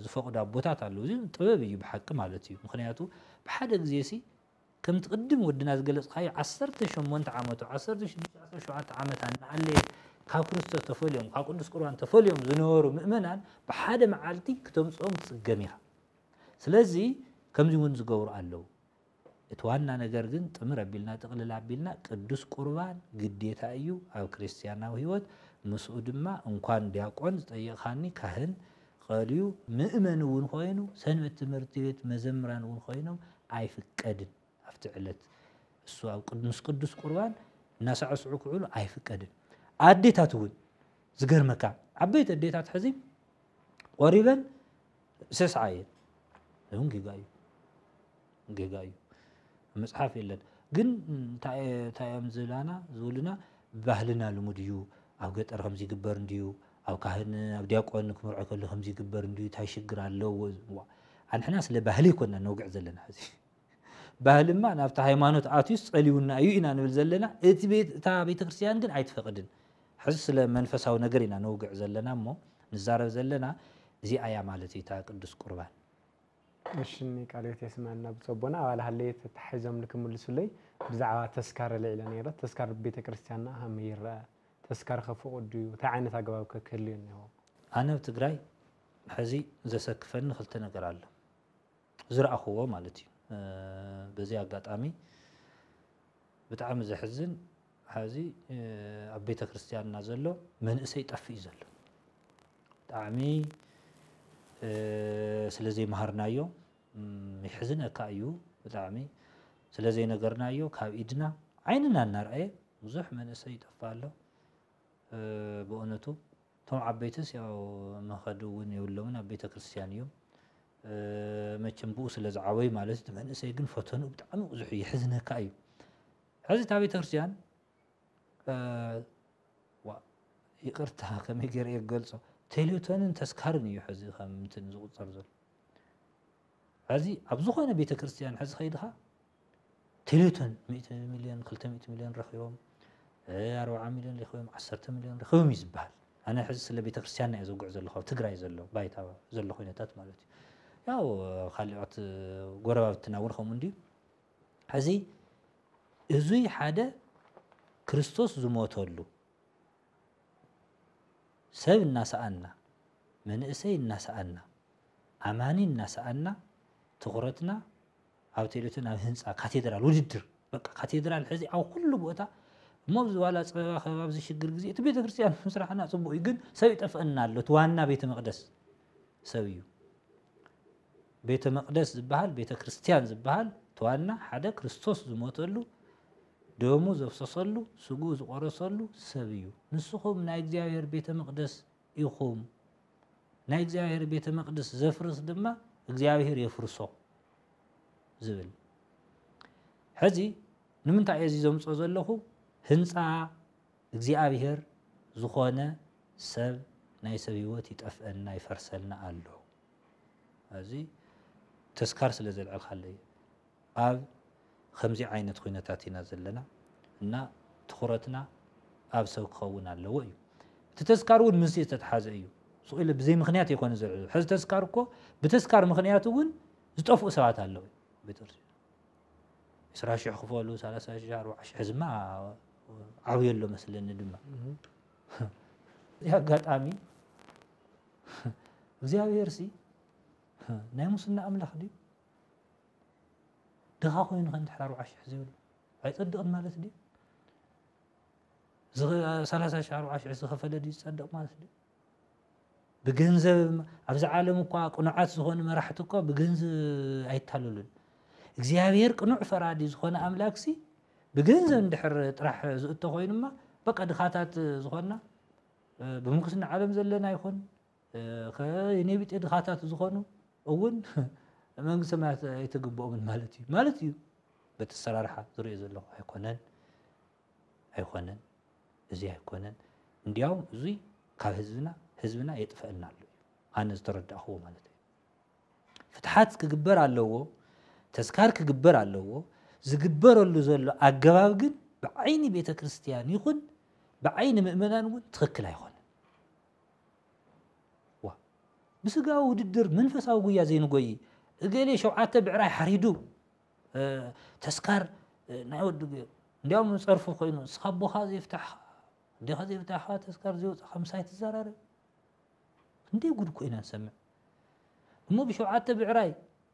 ዝፈቕዱ ኣቦታት ኣለዉ እዚ ጥበብ እዩ ብሓቂ ማለት እዩ ምክንያቱ ብሓደ ግዜ ሲ ከምቲ ቅድም ወድና ዝገለጽካዮ ዓሰርተ ሸሞንተ ዓመቱ ዓሰርተ ሽዱሽተ ዓሰርተ ሸውዓተ ዓመታ እናሃለየ ካብ ክርስቶስ ተፈልዮም ካብ ቅዱስ ቁርባን ተፈልዮም ዝነበሩ ምእመናን ብሓደ መዓልቲ ክተምጽኦም ትጽገም ኢኻ ስለዚ ከምዚ እውን ዝገብሩ ኣለዉ እቲ ዋና ነገር ግን ጥምር ኣቢልና ጥቕልል ኣቢልና ቅዱስ ቁርባን ግዴታ እዩ ኣብ ክርስትያናዊ ህይወት ምስኡ ድማ እንኳን ዲያቆን ዝጠየቕኻኒ ካህን ቐልዩ ምእመን እውን ኾይኑ ሰንበት ትምህርቲ ቤት መዘምራን እውን ኾይኖም ኣይፍቀድን ኣብቲ ዕለት እሱ ኣብ ምስ ቅዱስ ቁርባን እናሳዕስዑ ክውዕሉ ኣይፍቀድን ኣዴታት እውን ዝገርመካ ዓበይቲ ኣዴታት ሕዚ ቆሪበን ሰስዓ እየን እውን ጌጋ እዩ ጌጋ እዩ ኣብ መጽሓፍ የለን ግን እንታይ እዮም ዝብላና ዝብሉና ባህልና ልሙድ እዩ ኣብ ገጠር ከምዚ ይግበር እንድዩ ኣብ ካህን ኣብ ዲያቆን ክምርዖ ከሎ ከምዚ ይግበር እንድዩ እንታይ ሽግር ኣለዎ ዝዋ ኣንሕና ስለ ባህሊ ይኮንና ነውግዕ ዘለና ሕዚ ባህልማ ናብቲ ሃይማኖት ኣትዩስ ጸልዩና እዩ ኢና ንብል ዘለና እቲ እታ ቤተ ክርስትያን ግን ኣይትፈቅድን ሕዚ ስለ መንፈሳዊ ነገር ኢና ነውግዕ ዘለና እሞ ንዛረብ ዘለና እዚኣ እያ ማለት እዩ እታ ቅዱስ ቁርባን እሽኒ ቃለ ህይወት የስመዐልና ብፁዕ ኣቦና ኣባል ሃለየት ተታሒዞምኒ ክምልሱለይ ብዛዕባ ተስካር ኣልዒለ ነይረ ተስካር ብቤተክርስትያንና ከመይ ይረኣ ተስካር ከ ፍቁድ ድዩ እንታይ ዓይነት ኣገባብ ከ ክህልዮ እኒሀዎ። ኣነ ኣብ ትግራይ ሐዚ ዘሰክፈኒ ክልተ ነገር ኣሎ ዝረኣኹዎ ማለት እዩ በዚ ኣጋጣሚ ብጣዕሚ ዘሕዝን ሐዚ ኣብ ቤተክርስትያንና ዘሎ መንእሰይ ጠፍእ እዩ ዘሎ ብጣዕሚ ስለዘይመሃርናዮ የሕዝነካ እዩ ብጣዕሚ ስለዘይነገርናዮ ካብ ኢድና ዓይንና እናርኣየ ብዙሕ መንእሰይ ይጠፍእ ኣሎ ብእውነቱ እቶም ዓበይትስ ያው መኸዲ እውን የብሎምን ኣብ ቤተክርስትያን እዮም መቸም ብኡ ስለዝዓበዩ ማለት እቲ መንእሰይ ግን ፈተንኡ ብጣዕሚ ብዙሕ እዩ የሕዝነካ እዩ ሕዚ እታ ቤተክርስትያን ዋእ ይቅርታ ከመይ ገይረ እየ ክገልጾ ቴሌቶንን ተስካርን እዩ ሕዚ ከም እንትን ዝቁጸር ዘሎ ሕዚ ኣብ ዝኾነ ቤተክርስትያን ሕዚ ከይድኻ ቴሌቶን ሚእቲ ሚልዮን ክልተ ሚእቲ ሚልዮን ረኺቦም ኣርባዓ ሚልዮን ረኺቦም ዓሰርተ ሚልዮን ረኺቦም እዩ ዝበሃል ኣነ ሕዚ ስለ ቤተክርስትያንና እየ ዘውግዕ ዘለኹ ኣብ ትግራይ ዘሎ ባይታ ዘሎ ኩነታት ማለት እዩ ያው ካልኦት ጎረባብትና እውን ከምኡ እንድዩ ሕዚ እዙይ ሓደ ክርስቶስ ዝሞተሉ ሰብ እናሰኣና መንእሰይ እናሰኣና ኣማኒ እናሰኣና ትኹረትና ኣብ ቴሌቶን ኣብ ህንፃ ካቴድራል ውድድር በቃ ካቴድራል ሕዚ ኣብ ኩሉ ቦታ እሞ ኣብዚ ዋላ ፀበባ ከባ ኣብዚ ሽግር ግዜ እቲ ቤተ ክርስቲያን ምስራሕና ፅቡቅ እዩ ግን ሰብ ይጠፍአና ኣሎ እቲ ዋና ቤተ መቅደስ ሰብ እዩ ቤተ መቅደስ ዝበሃል ቤተ ክርስትያን ዝበሃል ተዋና ሓደ ክርስቶስ ዝሞተሉ ደሙ ዘፍሰሰሉ ስግኡ ዝቆረሰሉ ሰብ እዩ ንስኹም ናይ እግዚኣብሔር ቤተ መቅደስ ኢኹም ናይ እግዚኣብሔር ቤተ መቅደስ ዘፍርስ ድማ እግዚኣብሔር የፍርሶ ዝብል ሕዚ ንምንታይ እየ እዚ ዘምፅኦ ዘለኹ ህንፃ እግዚኣብሔር ዝኾነ ሰብ ናይ ሰብ ህይወት ይጠፍአና ይፈርሰልና ኣሎ ኣዚ ተስካር ስለ ዘልዕልካለይ ኣብ ከምዚ ዓይነት ኩነታት ኢና ዘለና እና ትኩረትና ኣብ ሰብ ክከውን ኣለዎ እዩ እቲ ተስካር ውን ምንሲ ዝተትሓዘ እዩ ስቅ ኢለ ብዘይ ምክንያት ኣይኮነ ዘልዕሎ ሕዚ ተስካር እኮ ብተስካር ምክንያት ውን ዝጠፍኡ ሰባት ኣለዉ ቤተክርስቲያን ዕስራ ሽሕ ክፈሉ ሰላሳ ሽሕ ኣርባዓ ሽሕ ሕዝማ ዓብዩ ኣሎ መስለኒ ድማ እዚ ኣጋጣሚ እግዚኣብሔርሲ ናይ ሙስና ኣምላኽ ድዩ? ድኻ ኮይኑ ከ እንድሕር ኣርብዓ ሽሕ ዘይብሉ ኣይጸድቕን ማለት ድዩ? ሰላሳ ሽሕ ኣርብዓ ሽሕ ዝኸፈለ ድዩ ዝጸድቕ ማለት ድዩ? ብገንዘብ ኣብዚ ዓለም እኳ ቅኑዓት ዝኾኑ መራሕቲ እኳ ብገንዘብ ኣይታለሉን። እግዚኣብሔር ቅኑዕ ፈራዲ ዝኾነ ኣምላክሲ ብገንዘብ እንድሕር ጥራሕ ዝእቶ ኮይኑማ በቃ ድኻታት ዝኾንና ብምንኩስና ዓለም ዘለና ይኹን ከኔ ቢጤ ድኻታት ዝኾኑ እውን መንግስቲ ሰማያት ኣይትግብኦምን ማለት እዩ ማለት እዩ በቲ ኣሰራርሓ ዝሪኦ ዘለኹ ኣይኮነን ኣይኮነን እዚ ኣይኮነን እንዲያውም እዙይ ካብ ህዝብና ህዝብና የጥፈአና ኣሎ እዩ ኣነ ዝተረዳእኹዎ ማለት እዩ ፍትሓት ክግበር ኣለዎ፣ ተስካር ክግበር ኣለዎ፣ ዝግበረሉ ዘሎ ኣገባብ ግን ብዓይኒ ቤተ ክርስትያን ይኹን ብዓይኒ ምእመናን እውን ትኽክል ኣይኾነ ብስጋዊ ውድድር መንፈሳዊ ጉያ ዘይንጎይ እገሌ ሸውዓተ ብዕራይ ሓሪዱ ተስካር ናይ ወዲ ገይሩ እንዲያውም ፀርፉ ኮይኑ እስኻ ቦኻ ዘይፍታሕኻ እንዲኻ ዘይፍታሕኻ ተስካር ዘይወፅኻ ምሳይ ትዘራረብ እንዴ ጉድ ኮይና ንሰምዕ እሞ ብሸውዓተ ብዕራይ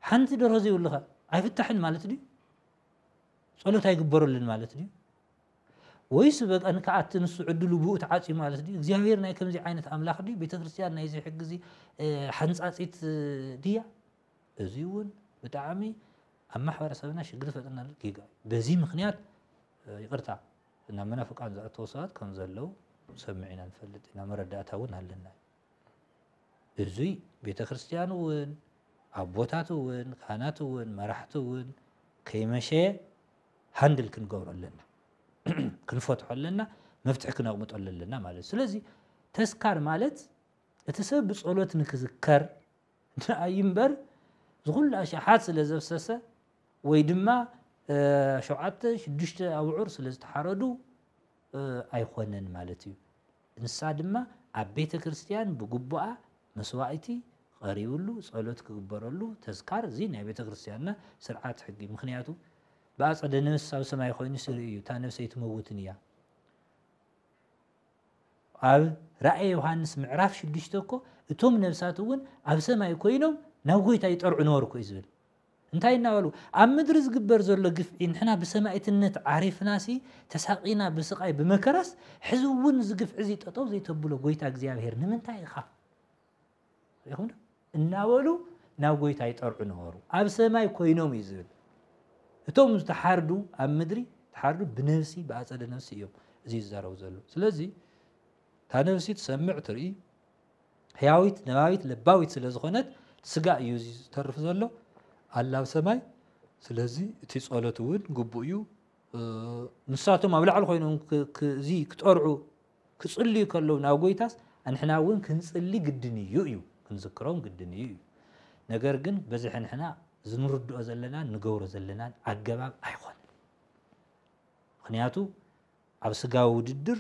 ሓንቲ ደርሆ ዘይብሉኸ ኣይፍታሕን ማለት ድዩ? ጸሎት ኣይግበረሉን ማለት ድዩ? ወይስ በቃ ንከኣቲ ንሱ ዕድሉ ብኡ ተዓጽዩ ማለት ድዩ? እግዚኣብሔር ናይ ከምዚ ዓይነት ኣምላኽ ድዩ? ቤተ ክርስቲያን ናይዚ ሕጊዚ ሓንጻጺት ድያ? እዚ እውን ብጣዕሚ ኣብ ማሕበረሰብና ሽግር ዝፈጥረናሉ ጌጋ እዩ። በዚ ምክንያት ይቅርታ ናብ መናፍቃን ዝኣተው ሰባት ከም ዘለው ሰምዕ ኢና ንፈልጥ ኢና መረዳእታ እውን ኣለና። እዙይ ቤተ ክርስቲያን እውን ኣቦታት እውን ካህናት እውን መራሕቲ እውን ከይመሸ ሃንድል ክንገብሮ ኣለና ክንፈትሖ ኣለና መፍትሒ ክነቕምጠሉ ኣለና ማለት ስለዚ ተስካር ማለት እቲ ሰብ ብጸሎት ንክዝከር ንኣይ እምበር ዝኹሉ ኣሽሓት ስለ ዘፍሰሰ ወይ ድማ ሸውዓተ ሽዱሽተ ኣብዑር ስለ ዝተሓረዱ ኣይኮነን ማለት እዩ ንሳ ድማ ኣብ ቤተ ክርስትያን ብግቡኣ መስዋኢቲ ቐሪብሉ ጸሎት ክግበረሉ ተዝካር እዚ ናይ ቤተ ክርስትያንና ስርዓት ሕጊ ምክንያቱ ብኣጸደ ነፍስ ኣብ ሰማይ ኮይኑ ስርኢ እዩ እታ ነፍሰይ ትመውትን እያ ኣብ ራእየ ዮሃንስ ምዕራፍ ሽዱሽተ እኮ እቶም ነብሳት እውን ኣብ ሰማይ ኮይኖም ናብ ጎይታ ይጠርዑ ነበርኩ እዩ ዝብል እንታይ እናበሉ ኣብ ምድሪ ዝግበር ዘሎ ግፍዒ ንሕና ብሰማኢትነት ዓሪፍናሲ ተሳቂና ብስቃይ ብመከራስ ሕዚ እውን እዚ ግፍዒ እዚ ጠጠው ዘይተብሎ ጎይታ እግዚኣብሄር ንምንታይ ኢኻ ሪኹም ዶ እናበሉ ናብ ጎይታ ይጠርዑ ነበሩ ኣብ ሰማይ ኮይኖም እዩ ዝብል እቶም ዝተሓርዱ ኣብ ምድሪ ተሓርዱ ብነብሲ ብኣፀደ ነብሲ እዮም እዚ ይዛረቡ ዘሎ ስለዚ እታ ነብሲ ትሰምዕ ትርኢ ሕያዊት ነባቢት ለባዊት ስለ ዝኾነት ስጋ እዩ እዚ ዝተርፍ ዘሎ ኣላ ኣብ ሰማይ ስለዚ እቲ ጸሎት እውን ግቡእ እዩ ንሳቶም ኣብ ላዕሊ ኮይኖም እዚ ክጠርዑ ክጽልዩ ከለዉ ናብ ጎይታስ ንሕና እውን ክንጽሊ ግድን እዩ እዩ ክንዝክሮም ግድን እዩ እዩ ነገር ግን በዚ ሕንሕና ዝንርድኦ ዘለናን ንገብሮ ዘለናን ኣገባብ ኣይኮነን ምክንያቱ ኣብ ስጋዊ ውድድር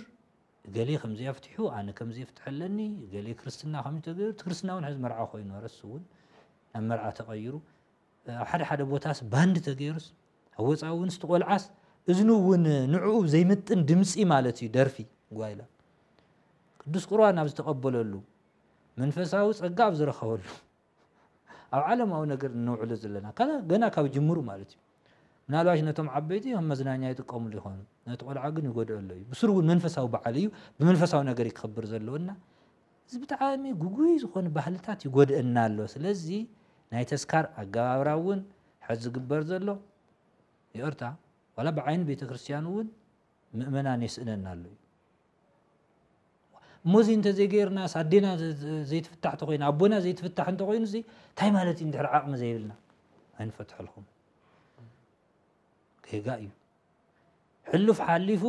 እገሌ ከምዚ ኣፍቲሑ ኣነ ከምዚ ፍትሒ ኣለኒ እገሌ ክርስትና ከምዚ ተገይሩ እቲ ክርስትና እውን ሕዚ መርዓ ኮይኑ ኣረስ እውን ናብ መርዓ ተቐይሩ ኣብ ሓደ ሓደ ቦታስ ባንድ ተገይሩስ ኣብ ወፃኢ እውን ስቲ ቆልዓስ እዝኑ እውን ንዕኡ ዘይምጥን ድምፂ ማለት እዩ ደርፊ ጓይላ ቅዱስ ቁርባን ኣብ ዝተቐበለሉ መንፈሳዊ ጸጋ ኣብ ዝረኸበሉ ኣብ ዓለማዊ ነገር እነውዕሎ ዘለና ከላ ገና ካብ ጅምሩ ማለት እዩ። ምናልባሽ ነቶም ዓበይቲ ከም መዝናኛ ይጥቀምሉ ይኾኑ፣ ነቲ ቆልዓ ግን ይጎድኦ ኣሎ እዩ። ብስሩ እውን መንፈሳዊ በዓል እዩ፣ ብመንፈሳዊ ነገር እዩ ክኸብር ዘለዎ እና እዚ ብጣዕሚ ጉጉይ ዝኾኑ ባህልታት ይጎድእና ኣሎ። ስለዚ ናይ ተስካር ኣገባብራ እውን ሕዚ ዝግበር ዘሎ ይቕርታ ዋላ ብዓይኒ ቤተ ክርስቲያን እውን ምእመናን የስእነና ኣሎ እዩ። እሞዚ እንተዘይገይርናስ ኣዴና ዘይትፍታሕ ተኮይኑ ኣቦና ዘይትፍታሕ እንተኮይኑ ዚ እንታይ ማለት እዩ ድሕሪ ዓቕሚ ዘይብልና ኣይንፈትሐልኩም ጌጋ እዩ ሕሉፍ ሓሊፉ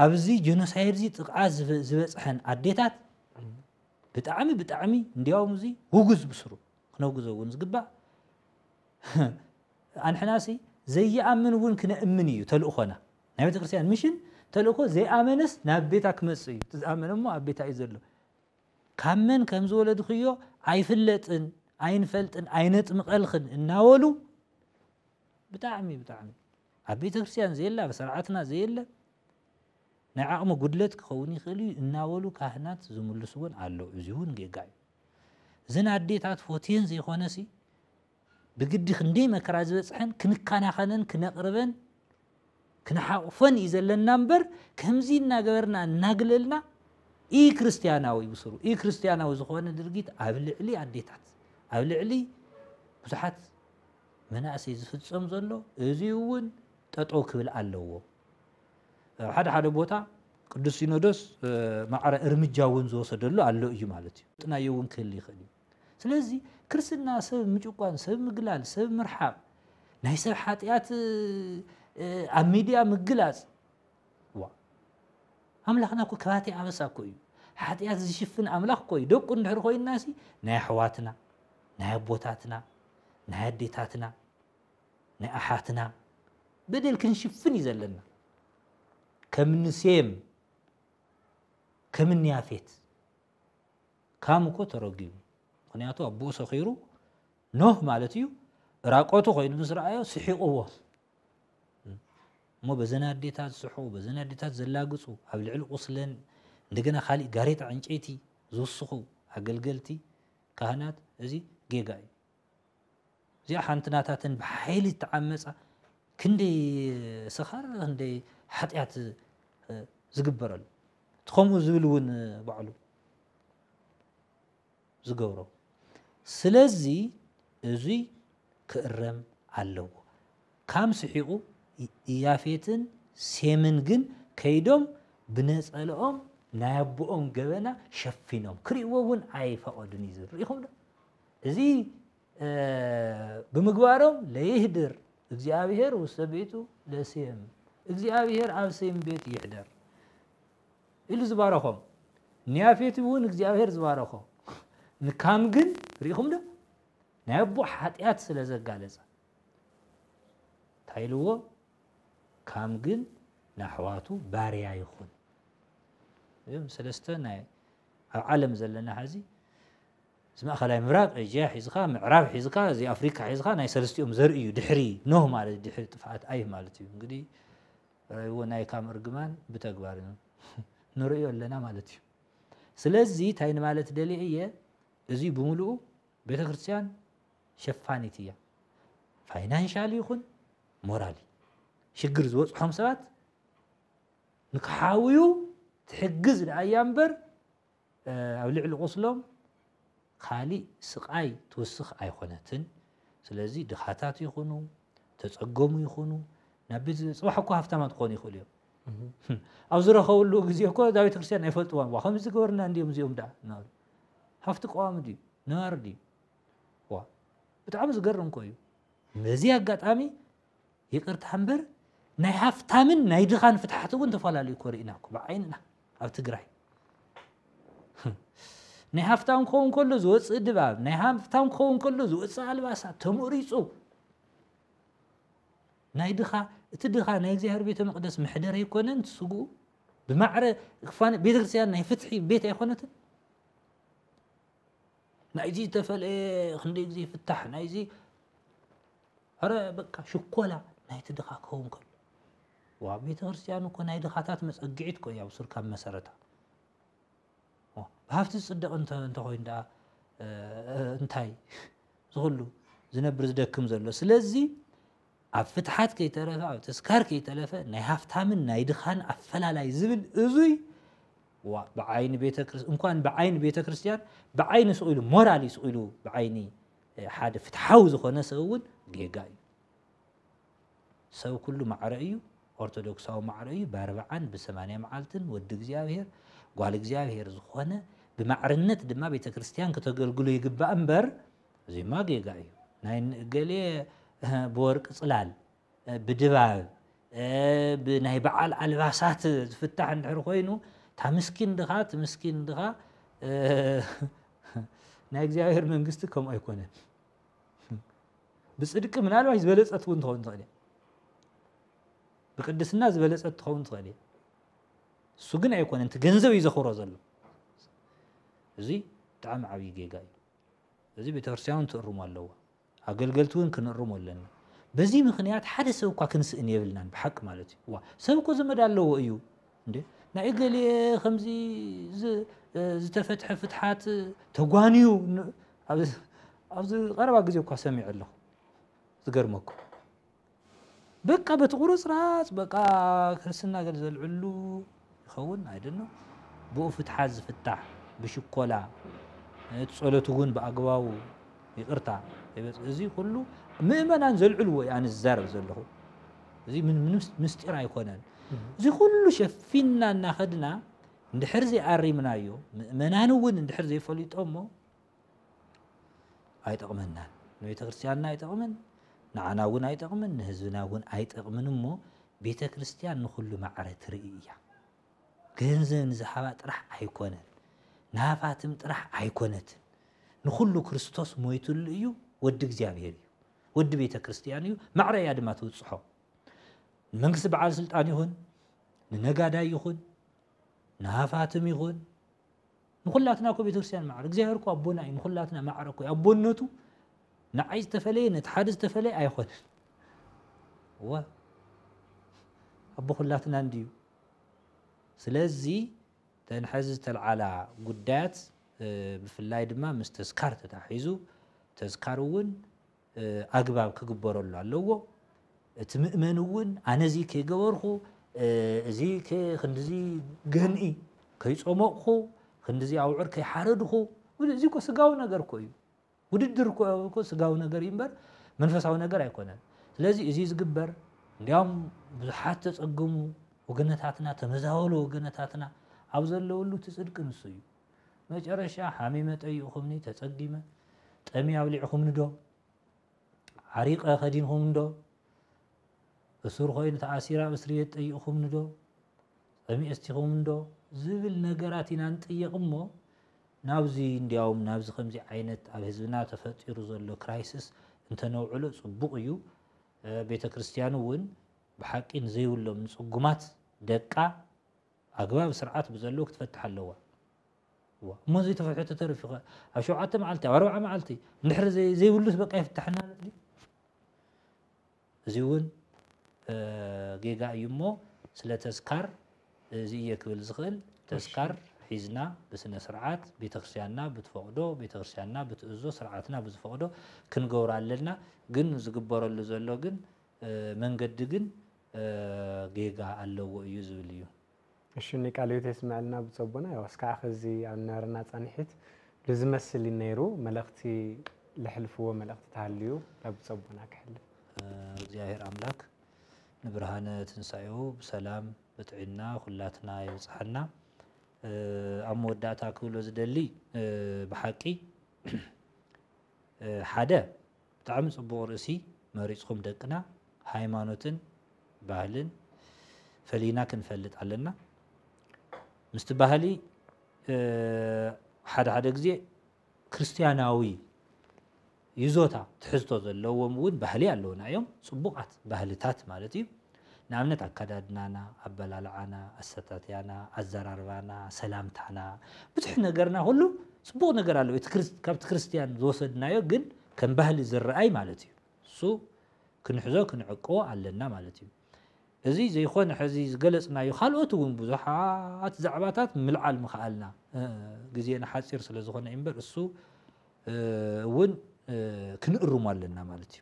ኣብዚ ጀኖሳይድ ዚ ጥቕዓት ዝበፅሐን ኣዴታት ብጣዕሚ ብጣዕሚ እንዲያውም እዚ ውጉዝ ብስሩ ክነውግዞ እውን ዝግባእ ኣንሕናሲ ዘይኣምን እውን ክነእምን እዩ ተልእኾና ናይ ቤተክርስትያን ምሽን ተልእኮ ዘይኣመነስ ናብ ቤታ ክመጽእ እዩ እቲ ዝኣመነ እሞ ኣብ ቤታ እዩ ዘሎ ካብ መን ከም ዝወለድክዮ ኣይፍለጥን ኣይንፈልጥን ኣይነጥምቀልክን እናበሉ ብጣዕሚ ብጣዕሚ ኣብ ቤተ ክርስቲያን ዘየለ ኣብ ስርዓትና ዘየለ ናይ ዓቕሚ ጉድለት ክኸውን ይኽእል እዩ እናበሉ ካህናት ዝምልስዎን ኣሎ እዚ እውን ጌጋ እዩ እዘን ኣዴታት ፎቴን ዘይኮነሲ ብግዲ ክንደይ መከራ ዝበጽሐን ክንከናኸነን ክነቕርበን ክንሓቑፈን እዩ ዘለና እምበር ከምዚ እናገበርና እናግለልና ኢ ክርስትያናዊ ብስሩ ኢ ክርስትያናዊ ዝኾነ ድርጊት ኣብ ልዕሊ ኣዴታት ኣብ ልዕሊ ብዙሓት መናእሰይ ዝፍጸም ዘሎ እዚ እውን ጠጠው ክብል ኣለዎ ኣብ ሓደ ሓደ ቦታ ቅዱስ ሲኖዶስ ማዕረ እርምጃ እውን ዝወሰደሉ ኣሎ እዩ ማለት እዩ ጥናዮ እውን ክህል ይኽእል እዩ ስለዚ ክርስትና ሰብ ምጭቋን ሰብ ምግላል ሰብ ምርሓቕ ናይ ሰብ ሓጢኣት ኣብ ሚድያ ምግላፅ ዋ ኣምላኽና እኮ ከባቴ ኣበሳ እኮ እዩ ሓጢኣት ዝሽፍን ኣምላኽ እኮ እዩ ደቁ እንድሕር ኮይንናሲ ናይ ኣሕዋትና ናይ ኣቦታትና ናይ ኣዴታትና ናይ ኣሓትና በደል ክንሽፍን እዩ ዘለና ከምኒ ሴም ከምኒ ያፌት ካም እኮ ተረጊሙ ምክንያቱ ኣቦኡ ሰኺሩ ኖህ ማለት እዩ ራቆቱ ኮይኑ ምስ ረኣዮ ስሒቕዎ እሞ በዘን ኣዴታት ዝስሕቑ በዘን ኣዴታት ዘላግጹ ኣብ ልዕሊ ቁስለን እንደገና ካሊእ ጋሬጣ ዕንጨይቲ ዝውስኹ ኣገልገልቲ ካህናት እዚ ጌጋ እዩ እዚኣ ሓንቲ ናታተን ብሓይሊ እትዓመፃ ክንደይ ስኻር ክንደይ ሓጢኣት ዝግበረሉ እቲ ከምኡ ዝብል እውን ባዕሉ ዝገብሮ ስለዚ እዙይ ክእረም ኣለዎ ካም ስሒቑ ያፌትን ሴምን ግን ከይዶም ብነፀለኦም ናይ ኣቦኦም ገበና ሸፊኖም ክርእዎ እውን ኣይፈቐዱን እዩ ዝብል ርኢኹም ዶ እዚ ብምግባሮም ለይህድር እግዚኣብሔር ውስተ ቤቱ ለሴም እግዚኣብሔር ኣብ ሴም ቤት ይሕደር ኢሉ ዝባረኾም ንያፌት እውን እግዚኣብሔር ዝባረኾ ንካም ግን ርኢኹም ዶ ናይ ኣቦ ሓጢኣት ስለ ዘጋለጸ እንታይ ኢልዎ ካም ግን ንኣሕዋቱ ባርያ ይኹን እም ሰለስተ ናይ ኣብ ዓለም ዘለና ሐዚ እዚ ማእከላይ ምብራቅ፣ ኤጂያ ሒዝካ፣ ምዕራብ ሒዝካ፣ እዚ ኣፍሪቃ ሒዝካ ናይ ሰልስቲኦም ዘርኢ እዩ ድሕሪ ኖህ ማለት ድሕሪ ጥፍኣት ኣይህ ማለት እዩ እንግዲህ ራይዎ ናይ ካም እርግማን ብተግባር ንርእዮ ኣለና ማለት እዩ ስለዚ እንታይ ንማለት ደልየ እየ እዚ ብምልኡ ቤተ ክርስቲያን ሸፋኒት እያ ፋይናንሻል ይኹን ሞራሊ ሽግር ዝበፅሖም ሰባት ንክሓውዩ ትሕግዝ ደኣ እያ እምበር ኣብ ልዕሊ ቁስሎም ካሊእ ስቃይ ትውስኽ ኣይኾነትን ስለዚ ድኻታት ይኹኑ ተፀገሙ ይኹኑ ናብ ቤት ፅባሕ እኮ ሃፍታማት ክኾኑ ይኽእሉ እዮም ኣብ ዝረኸብሉ ግዜ እኮ እዛ ቤተክርስትያን ኣይፈልጥዋን ዋ ከምዚ ዝገበርና እንዲዮም እዚኦም ደኣ እናበሉ ሃፍቲ ቀዋሚ ድዩ ነባሪ ድዩ ዋ ብጣዕሚ ዝገርም እኮ እዩ በዚ ኣጋጣሚ ይቅርታ እምበር ናይ ሃፍታምን ናይ ድኻን ፍትሓት እውን ተፈላለዩ እኮ ርኢና እኮ ብዓይንና ኣብ ትግራይ ናይ ሃፍታም ክኸውን ከሎ ዝወፅእ ድባብ ናይ ሃፍታም ክኸውን ከሎ ዝወፅእ ኣልባሳት ተመሪፁ ናይ ድኻ እቲ ድኻ ናይ እግዚኣብሔር ቤተ መቅደስ መሕደር ኣይኮነን ስግኡ ብማዕረ ቤተክርስትያን ናይ ፍትሒ ቤት ኣይኮነትን ናይዚ ዝተፈለየ ክንደይ ግዜ ፍታሕ ናይዚ ኣረ በቃ ሽኮላ ናይቲ ድኻ ክኸውን ከሎ ዋ ቤተ ክርስትያን እኮ ናይ ድኻታት መጸግዒት እኮ እያ ብሱር ካብ መሰረታ ብሃፍቲ ዝጽደቕ እንተኮይኑ ደኣ እንታይ ዝኹሉ ዝነብር ዝደክም ዘሎ ስለዚ ኣብ ፍትሓት ከይተረፈ ኣብ ተስካር ከይተለፈ ናይ ሃፍታምን ናይ ድኻን ኣፈላላይ ዝብል እዙይ ብዓይኒ ቤተክርስ እንኳን ብዓይኒ ቤተ ክርስትያን ብዓይኒ ስቑኢሉ ሞራል እዩ ስቑኢሉ ብዓይኒ ሓደ ፍትሓዊ ዝኾነ ሰብ እውን ጌጋ እዩ። ሰብ ኩሉ ማዕረ እዩ፣ ኦርቶዶክሳዊ ማዕረ እዩ፣ ብኣርብዓን ብሰማንያ መዓልትን ወዲ እግዚኣብሔር ጓል እግዚኣብሔር ዝኾነ ብማዕርነት ድማ ቤተ ክርስቲያን ክተገልግሎ ይግባእ እምበር እዚማ ጌጋ እዩ ናይ እገሌ ብወርቂ ጽላል ብድባብ ብናይ በዓል ኣልባሳት ዝፍታሕ እንድሕር ኮይኑ እታ ምስኪን ድኻ እቲ ምስኪን ድኻ ናይ እግዚኣብሔር መንግስቲ ከምኡ ኣይኮነን። ብፅድቂ ምናልባት ዝበለፀት እውን ትኸውን ትኽእል ብቅድስና ዝበለፀት ትኸውን ትኽእል እየ እሱ ግን ኣይኮነን እቲ ገንዘብ እዩ ዘኽብሮ ዘሎ እዚ ብጣዕሚ ዓብዪ ጌጋ እዩ እዚ ቤተክርስትያን ትእርሞ ኣለዎ ኣገልገልቲ ውን ክንእርሞ ኣለና በዚ ምኽንያት ሓደ ሰብ እኳ ክንስእን የብልናን ብሓቂ ማለት እዩ እዋ ሰብ እኮ ዘመድ ኣለዎ እዩ እንዴ ናይ እገሌ ከምዚ ዝተፈትሐ ፍትሓት ተጓንዩ ኣብዚ ቀረባ ግዜ እኳ ሰሚዐ ኣለኹ ዝገርመኩም በቃ በቲ ቁርፅራፅ በቃ ክርስትና ገለ ዘልዕሉ ይኸውን ኣይደኖ ብኡ ፍትሓት ዝፍታሕ ብሽኮላ እቲ ፀሎት እውን ብኣግባቡ ይቅርታ እዚ ኩሉ ምእመናን ዘልዕልዎ እዩ ኣነ ዝዛረብ ዘለኹ እዚ ምንም ምስጢር ኣይኮነን እዚ ኩሉ ሸፊንና እናኸድና እንድሕር ዘይኣሪምናዮ ምእመናን እውን እንድሕር ዘይፈሊጦሞ ኣይጠቕመናን ንቤተክርስትያንና ኣይጠቕምን ንዓና እውን ኣይጠቕምን ንህዝብና እውን ኣይጠቕምን እሞ ቤተክርስትያን ንኹሉ ማዕረ ትርኢ እያ ገንዘብ ንዝሃባ ጥራሕ ኣይኮነን ንሃፋትም ጥራሕ ኣይኮነትን ንኹሉ ክርስቶስ ሞይትሉ እዩ ወዲ እግዚኣብሔር እዩ ወዲ ቤተክርስትያን እዩ ማዕረ እያ ድማ ትውፅሖ ንመንግስቲ በዓል ስልጣን ይኹን ንነጋዳይ ይኹን ንሃፋትም ይኹን ንኹላትና እኮ ቤተክርስትያን ማዕረ እግዚኣብሔር እኮ ኣቦና እዩ ንኹላትና ማዕረ እኮ ኣቦነቱ ንዓይ ዝተፈለየ ነቲ ሓደ ዝተፈለየ ኣይኾነን እወ ኣቦ ኩላትና እንድዩ ስለዚ ተን ሕዚ ዝተልዓላ ጉዳያት ብፍላይ ድማ ምስ ተዝካር ተታሒዙ ተዝካር እውን ኣግባብ ክግበረሉ ኣለዎ። እቲ ምእመን እውን ኣነ እዚ ከይገበርኹ እዚ ክንዲዚ ገንኢ ከይጾሞቕኹ ክንዲዚ ኣውዕር ከይሓረድኹ እዚ እኮ ስጋዊ ነገር እኮ እዩ። ውድድር እኮ ስጋዊ ነገር እዩ እምበር መንፈሳዊ ነገር ኣይኮነን ስለዚ እዚ ዝግበር እንዲያውም ብዙሓት ተጸግሙ ወገነታትና ተመዛበሉ ወገነታትና ኣብ ዘለውሉ እቲ ጽድቂ ንሱ እዩ መጨረሻ ሓሚመ ጠይቕኹምኒ ተጸጊመ ጠምየ ኣብሊዕኹምኒዶ ዓሪቐ ከዲንኹምኒዶ እሱር ኮይኑ ተኣሲረ ኣብ እስርቤት ጠይቕኹምኒዶ ጠምየ እስቲኹምኒዶ ዝብል ነገራት ኢና ንጥየቕ እሞ ናብዚ እንዲያውም ናብዚ ከምዚ ዓይነት ኣብ ህዝብና ተፈጢሩ ዘሎ ክራይስስ እንተነውዕሎ ጽቡቕ እዩ ቤተ ክርስቲያን እውን ብሓቂ ንዘይብሎም ንጽጉማት ደቃ ኣግባብ ስርዓት ብዘለዎ ክትፈትሕ ኣለዋ። እዋ እሞ እዚ ተፈሕቱ ተሪፉ ከ ኣብ ሸውዓተ መዓልቲ ኣብ ኣርብዓ መዓልቲ እንድሕር ዘይብሉስ በቃ ይፍታሕ እናለት ድዩ? እዚ እውን ጌጋ እዩ እሞ ስለ ተስካር እዚ እየ ክብል ዝኽእል ተስካር ሒዝና ብስነ ስርዓት ቤተክርስትያንና ብትፈቕዶ ቤተክርስትያንና ብትእዞ ስርዓትና ብዝፈቕዶ ክንገብሮ ኣለና ግን ዝግበረሉ ዘሎ ግን መንገዲ ግን ጌጋ ኣለዎ እዩ ዝብል እዩ። እሽኒ ቃለ ህይወት የስመዐልና ብፁዕ ኣቦና ያው እስካዕ ኸዚ ኣብ ናረና ፃንሒት ልዝመስል እዩ ነይሩ መልእኽቲ ልሕልፍዎ መልእኽቲ ተሃልዩ ላብ ብፁዕ ኣቦና ክሕልፍ። እግዚኣብሔር ኣምላክ ንብርሃነ ትንሳኤኡ ብሰላም ብጥዒና ኩላትና የብጽሓና። ኣብ መወዳእታ ክብሎ ዝደሊ ብሓቂ ሓደ ብጣዕሚ ጽቡቅ ርእሲ መሪጽኩም ደቅና ሃይማኖትን ባህልን ፈሊና ክንፈልጥ ኣለና ምስቲ ባህሊ ሓደ ሓደ ግዜ ክርስትያናዊ ይዞታ ትሕዝቶ ዘለዎም እውን ባህሊ ኣለውና እዮም ጽቡቃት ባህልታት ማለት እዩ ንኣብነት ኣከዳድናና፣ ኣበላልዓና፣ ኣሰታትያና፣ ኣዘራርባና፣ ሰላምታና፣ ብዙሕ ነገርና ኩሉ ጽቡቕ ነገር ኣለዎ እቲ ካብቲ ክርስትያን ዝወሰድናዮ ግን ከም ባህሊ ዝረኣይ ማለት እዩ እሱ ክንሕዞ ክንዕቅቦ ኣለና ማለት እዩ እዚ ዘይኮነ ሕዚ ዝገለጽናዮ ካልኦት እውን ብዙሓት ዛዕባታት ምልዓል ምኽኣልና ግዜና ሓጺር ስለ ዝኾነ እዩ እምበር እሱ እውን ክንእርሞ ኣለና ማለት እዩ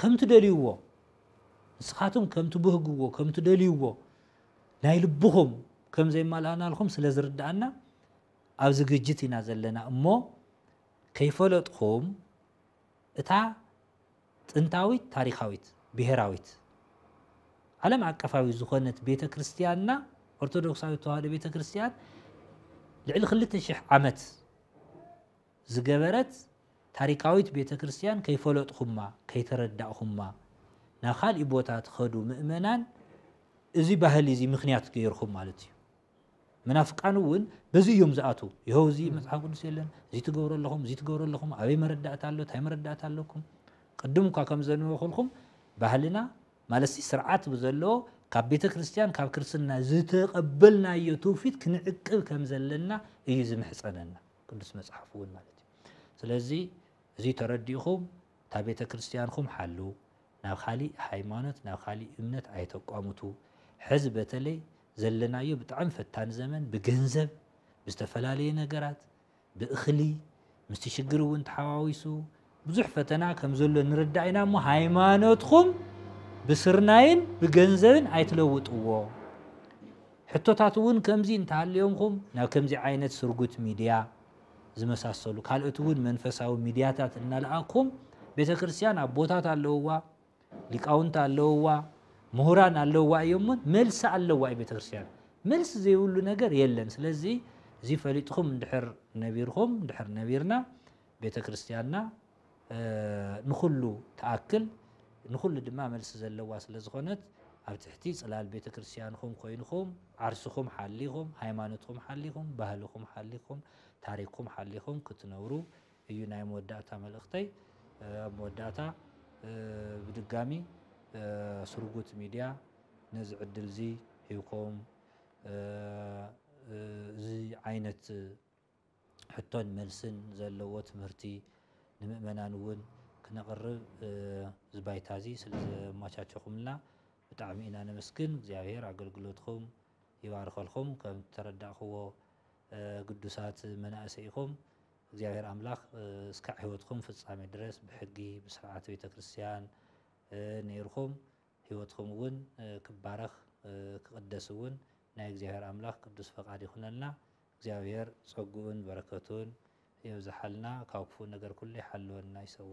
ከም ትደልይዎ ንስኻትኩም ከም ትብህግዎ ከም ትደልይዎ ናይ ልብኹም ከም ዘይማልኣናልኩም ስለ ዝርድኣና ኣብ ዝግጅት ኢና ዘለና እሞ ከይፈለጥኹም እታ ጥንታዊት ታሪካዊት ብሔራዊት ዓለም ኣቀፋዊ ዝኾነት ቤተ ክርስቲያንና ኦርቶዶክሳዊት ተዋህዶ ቤተ ክርስቲያን ልዕሊ ክልተ ሽሕ ዓመት ዝገበረት ታሪካዊት ቤተ ክርስትያን ከይፈለጥኹማ ከይተረዳእኹማ ናብ ኻሊእ ቦታ ትኸዱ ምእመናን እዚ ባህሊ እዚ ምኽንያት ገይርኹም ማለት እዩ። መናፍቃን እውን በዚ እዮም ዝኣትው ይኸው እዚ መፅሓፍ ቅዱስ የለን እዚ ትገብሩ ኣለኹም እዚ ትገብሩ ኣለኹም ኣበይ መረዳእታ ኣሎ እንታይ መረዳእታ ኣለኩም ቅድም እኳ ከም ዘንበኹልኩም ባህልና ማለት ስርዓት ብዘለዎ ካብ ቤተ ክርስትያን ካብ ክርስትና ዝተቐበልናዮ ትውፊት ክንዕቅብ ከም ዘለና እዩ ዝምሕፀነና ቅዱስ መጽሓፍ እውን ማለት እዩ ስለዚ እዚ ተረዲእኹም እታ ቤተ ክርስቲያንኹም ሓልው ናብ ካሊእ ሃይማኖት ናብ ካሊእ እምነት ኣይተቋሙቱ ሕዚ በተለይ ዘለናዮ ብጣዕሚ ፈታኒ ዘመን ብገንዘብ ብዝተፈላለየ ነገራት ብእኽሊ ምስቲ ሽግር እውን ተሓዋዊሱ ብዙሕ ፈተና ከም ዘሎ ንርዳእ ኢና እሞ ሃይማኖትኩም ብስርናይን ብገንዘብን ኣይትለውጥዎ። ሕቶታት እውን ከምዚ እንተሃልዮምኩም ናብ ከምዚ ዓይነት ስርጉት ሚድያ ዝመሳሰሉ ካልኦት እውን መንፈሳዊ ሚድያታት እናለኣኩም ቤተ ክርስቲያን ኣቦታት ኣለውዋ፣ ሊቃውንት ኣለውዋ፣ ምሁራን ኣለውዋ እዮምን መልሲ ኣለዋ እዩ ቤተ ክርስቲያን መልሲ ዘይብሉ ነገር የለን። ስለዚ እዚ ፈሊጥኹም እንድሕር ነቢርኹም እንድሕር ነቢርና ቤተ ክርስቲያንና ንኹሉ ትኣክል ንኹሉ ድማ መልሲ ዘለዋ ስለ ዝኾነት ኣብ ትሕቲ ጽላል ቤተ ክርስቲያንኹም ኮይንኹም ዓርስኹም ሓሊኹም ሃይማኖትኹም ሓሊኹም ባህልኹም ሓሊኹም ታሪኽኩም ሓሊኹም ክትነብሩ እዩ ናይ መወዳእታ መልእኽተይ ኣብ መወዳእታ ብድጋሚ ስርጉት ሚድያ ነዚ ዕድል እዚ ሂብኩም እዚ ዓይነት ሕቶን መልስን ዘለዎ ትምህርቲ ንምእመናን እውን ክነቕርብ እዚ ባይታ እዚ ስለ ዘማቻቸኹምልና ብጣዕሚ ኢና ነመስግን። እግዚኣብሔር ኣገልግሎትኹም ይባርከልኹም። ከም እተረዳእኹዎ ግዱሳት መናእሰይ ኢኹም። እግዚኣብሔር ኣምላኽ እስካዕ ሕይወትኹም ፍጻሜ ድረስ ብሕጊ ብስርዓት ቤተ ክርስቲያን ነይርኹም ሕይወትኹም እውን ክባረኽ ክቕደስ እውን ናይ እግዚኣብሔር ኣምላኽ ቅዱስ ፈቃድ ይኹነልና። እግዚኣብሔር ጸጉኡን በረከቱን የብዝሓልና ካብ ክፉእ ነገር ኩሉ ይሓልወና ይሰውረና።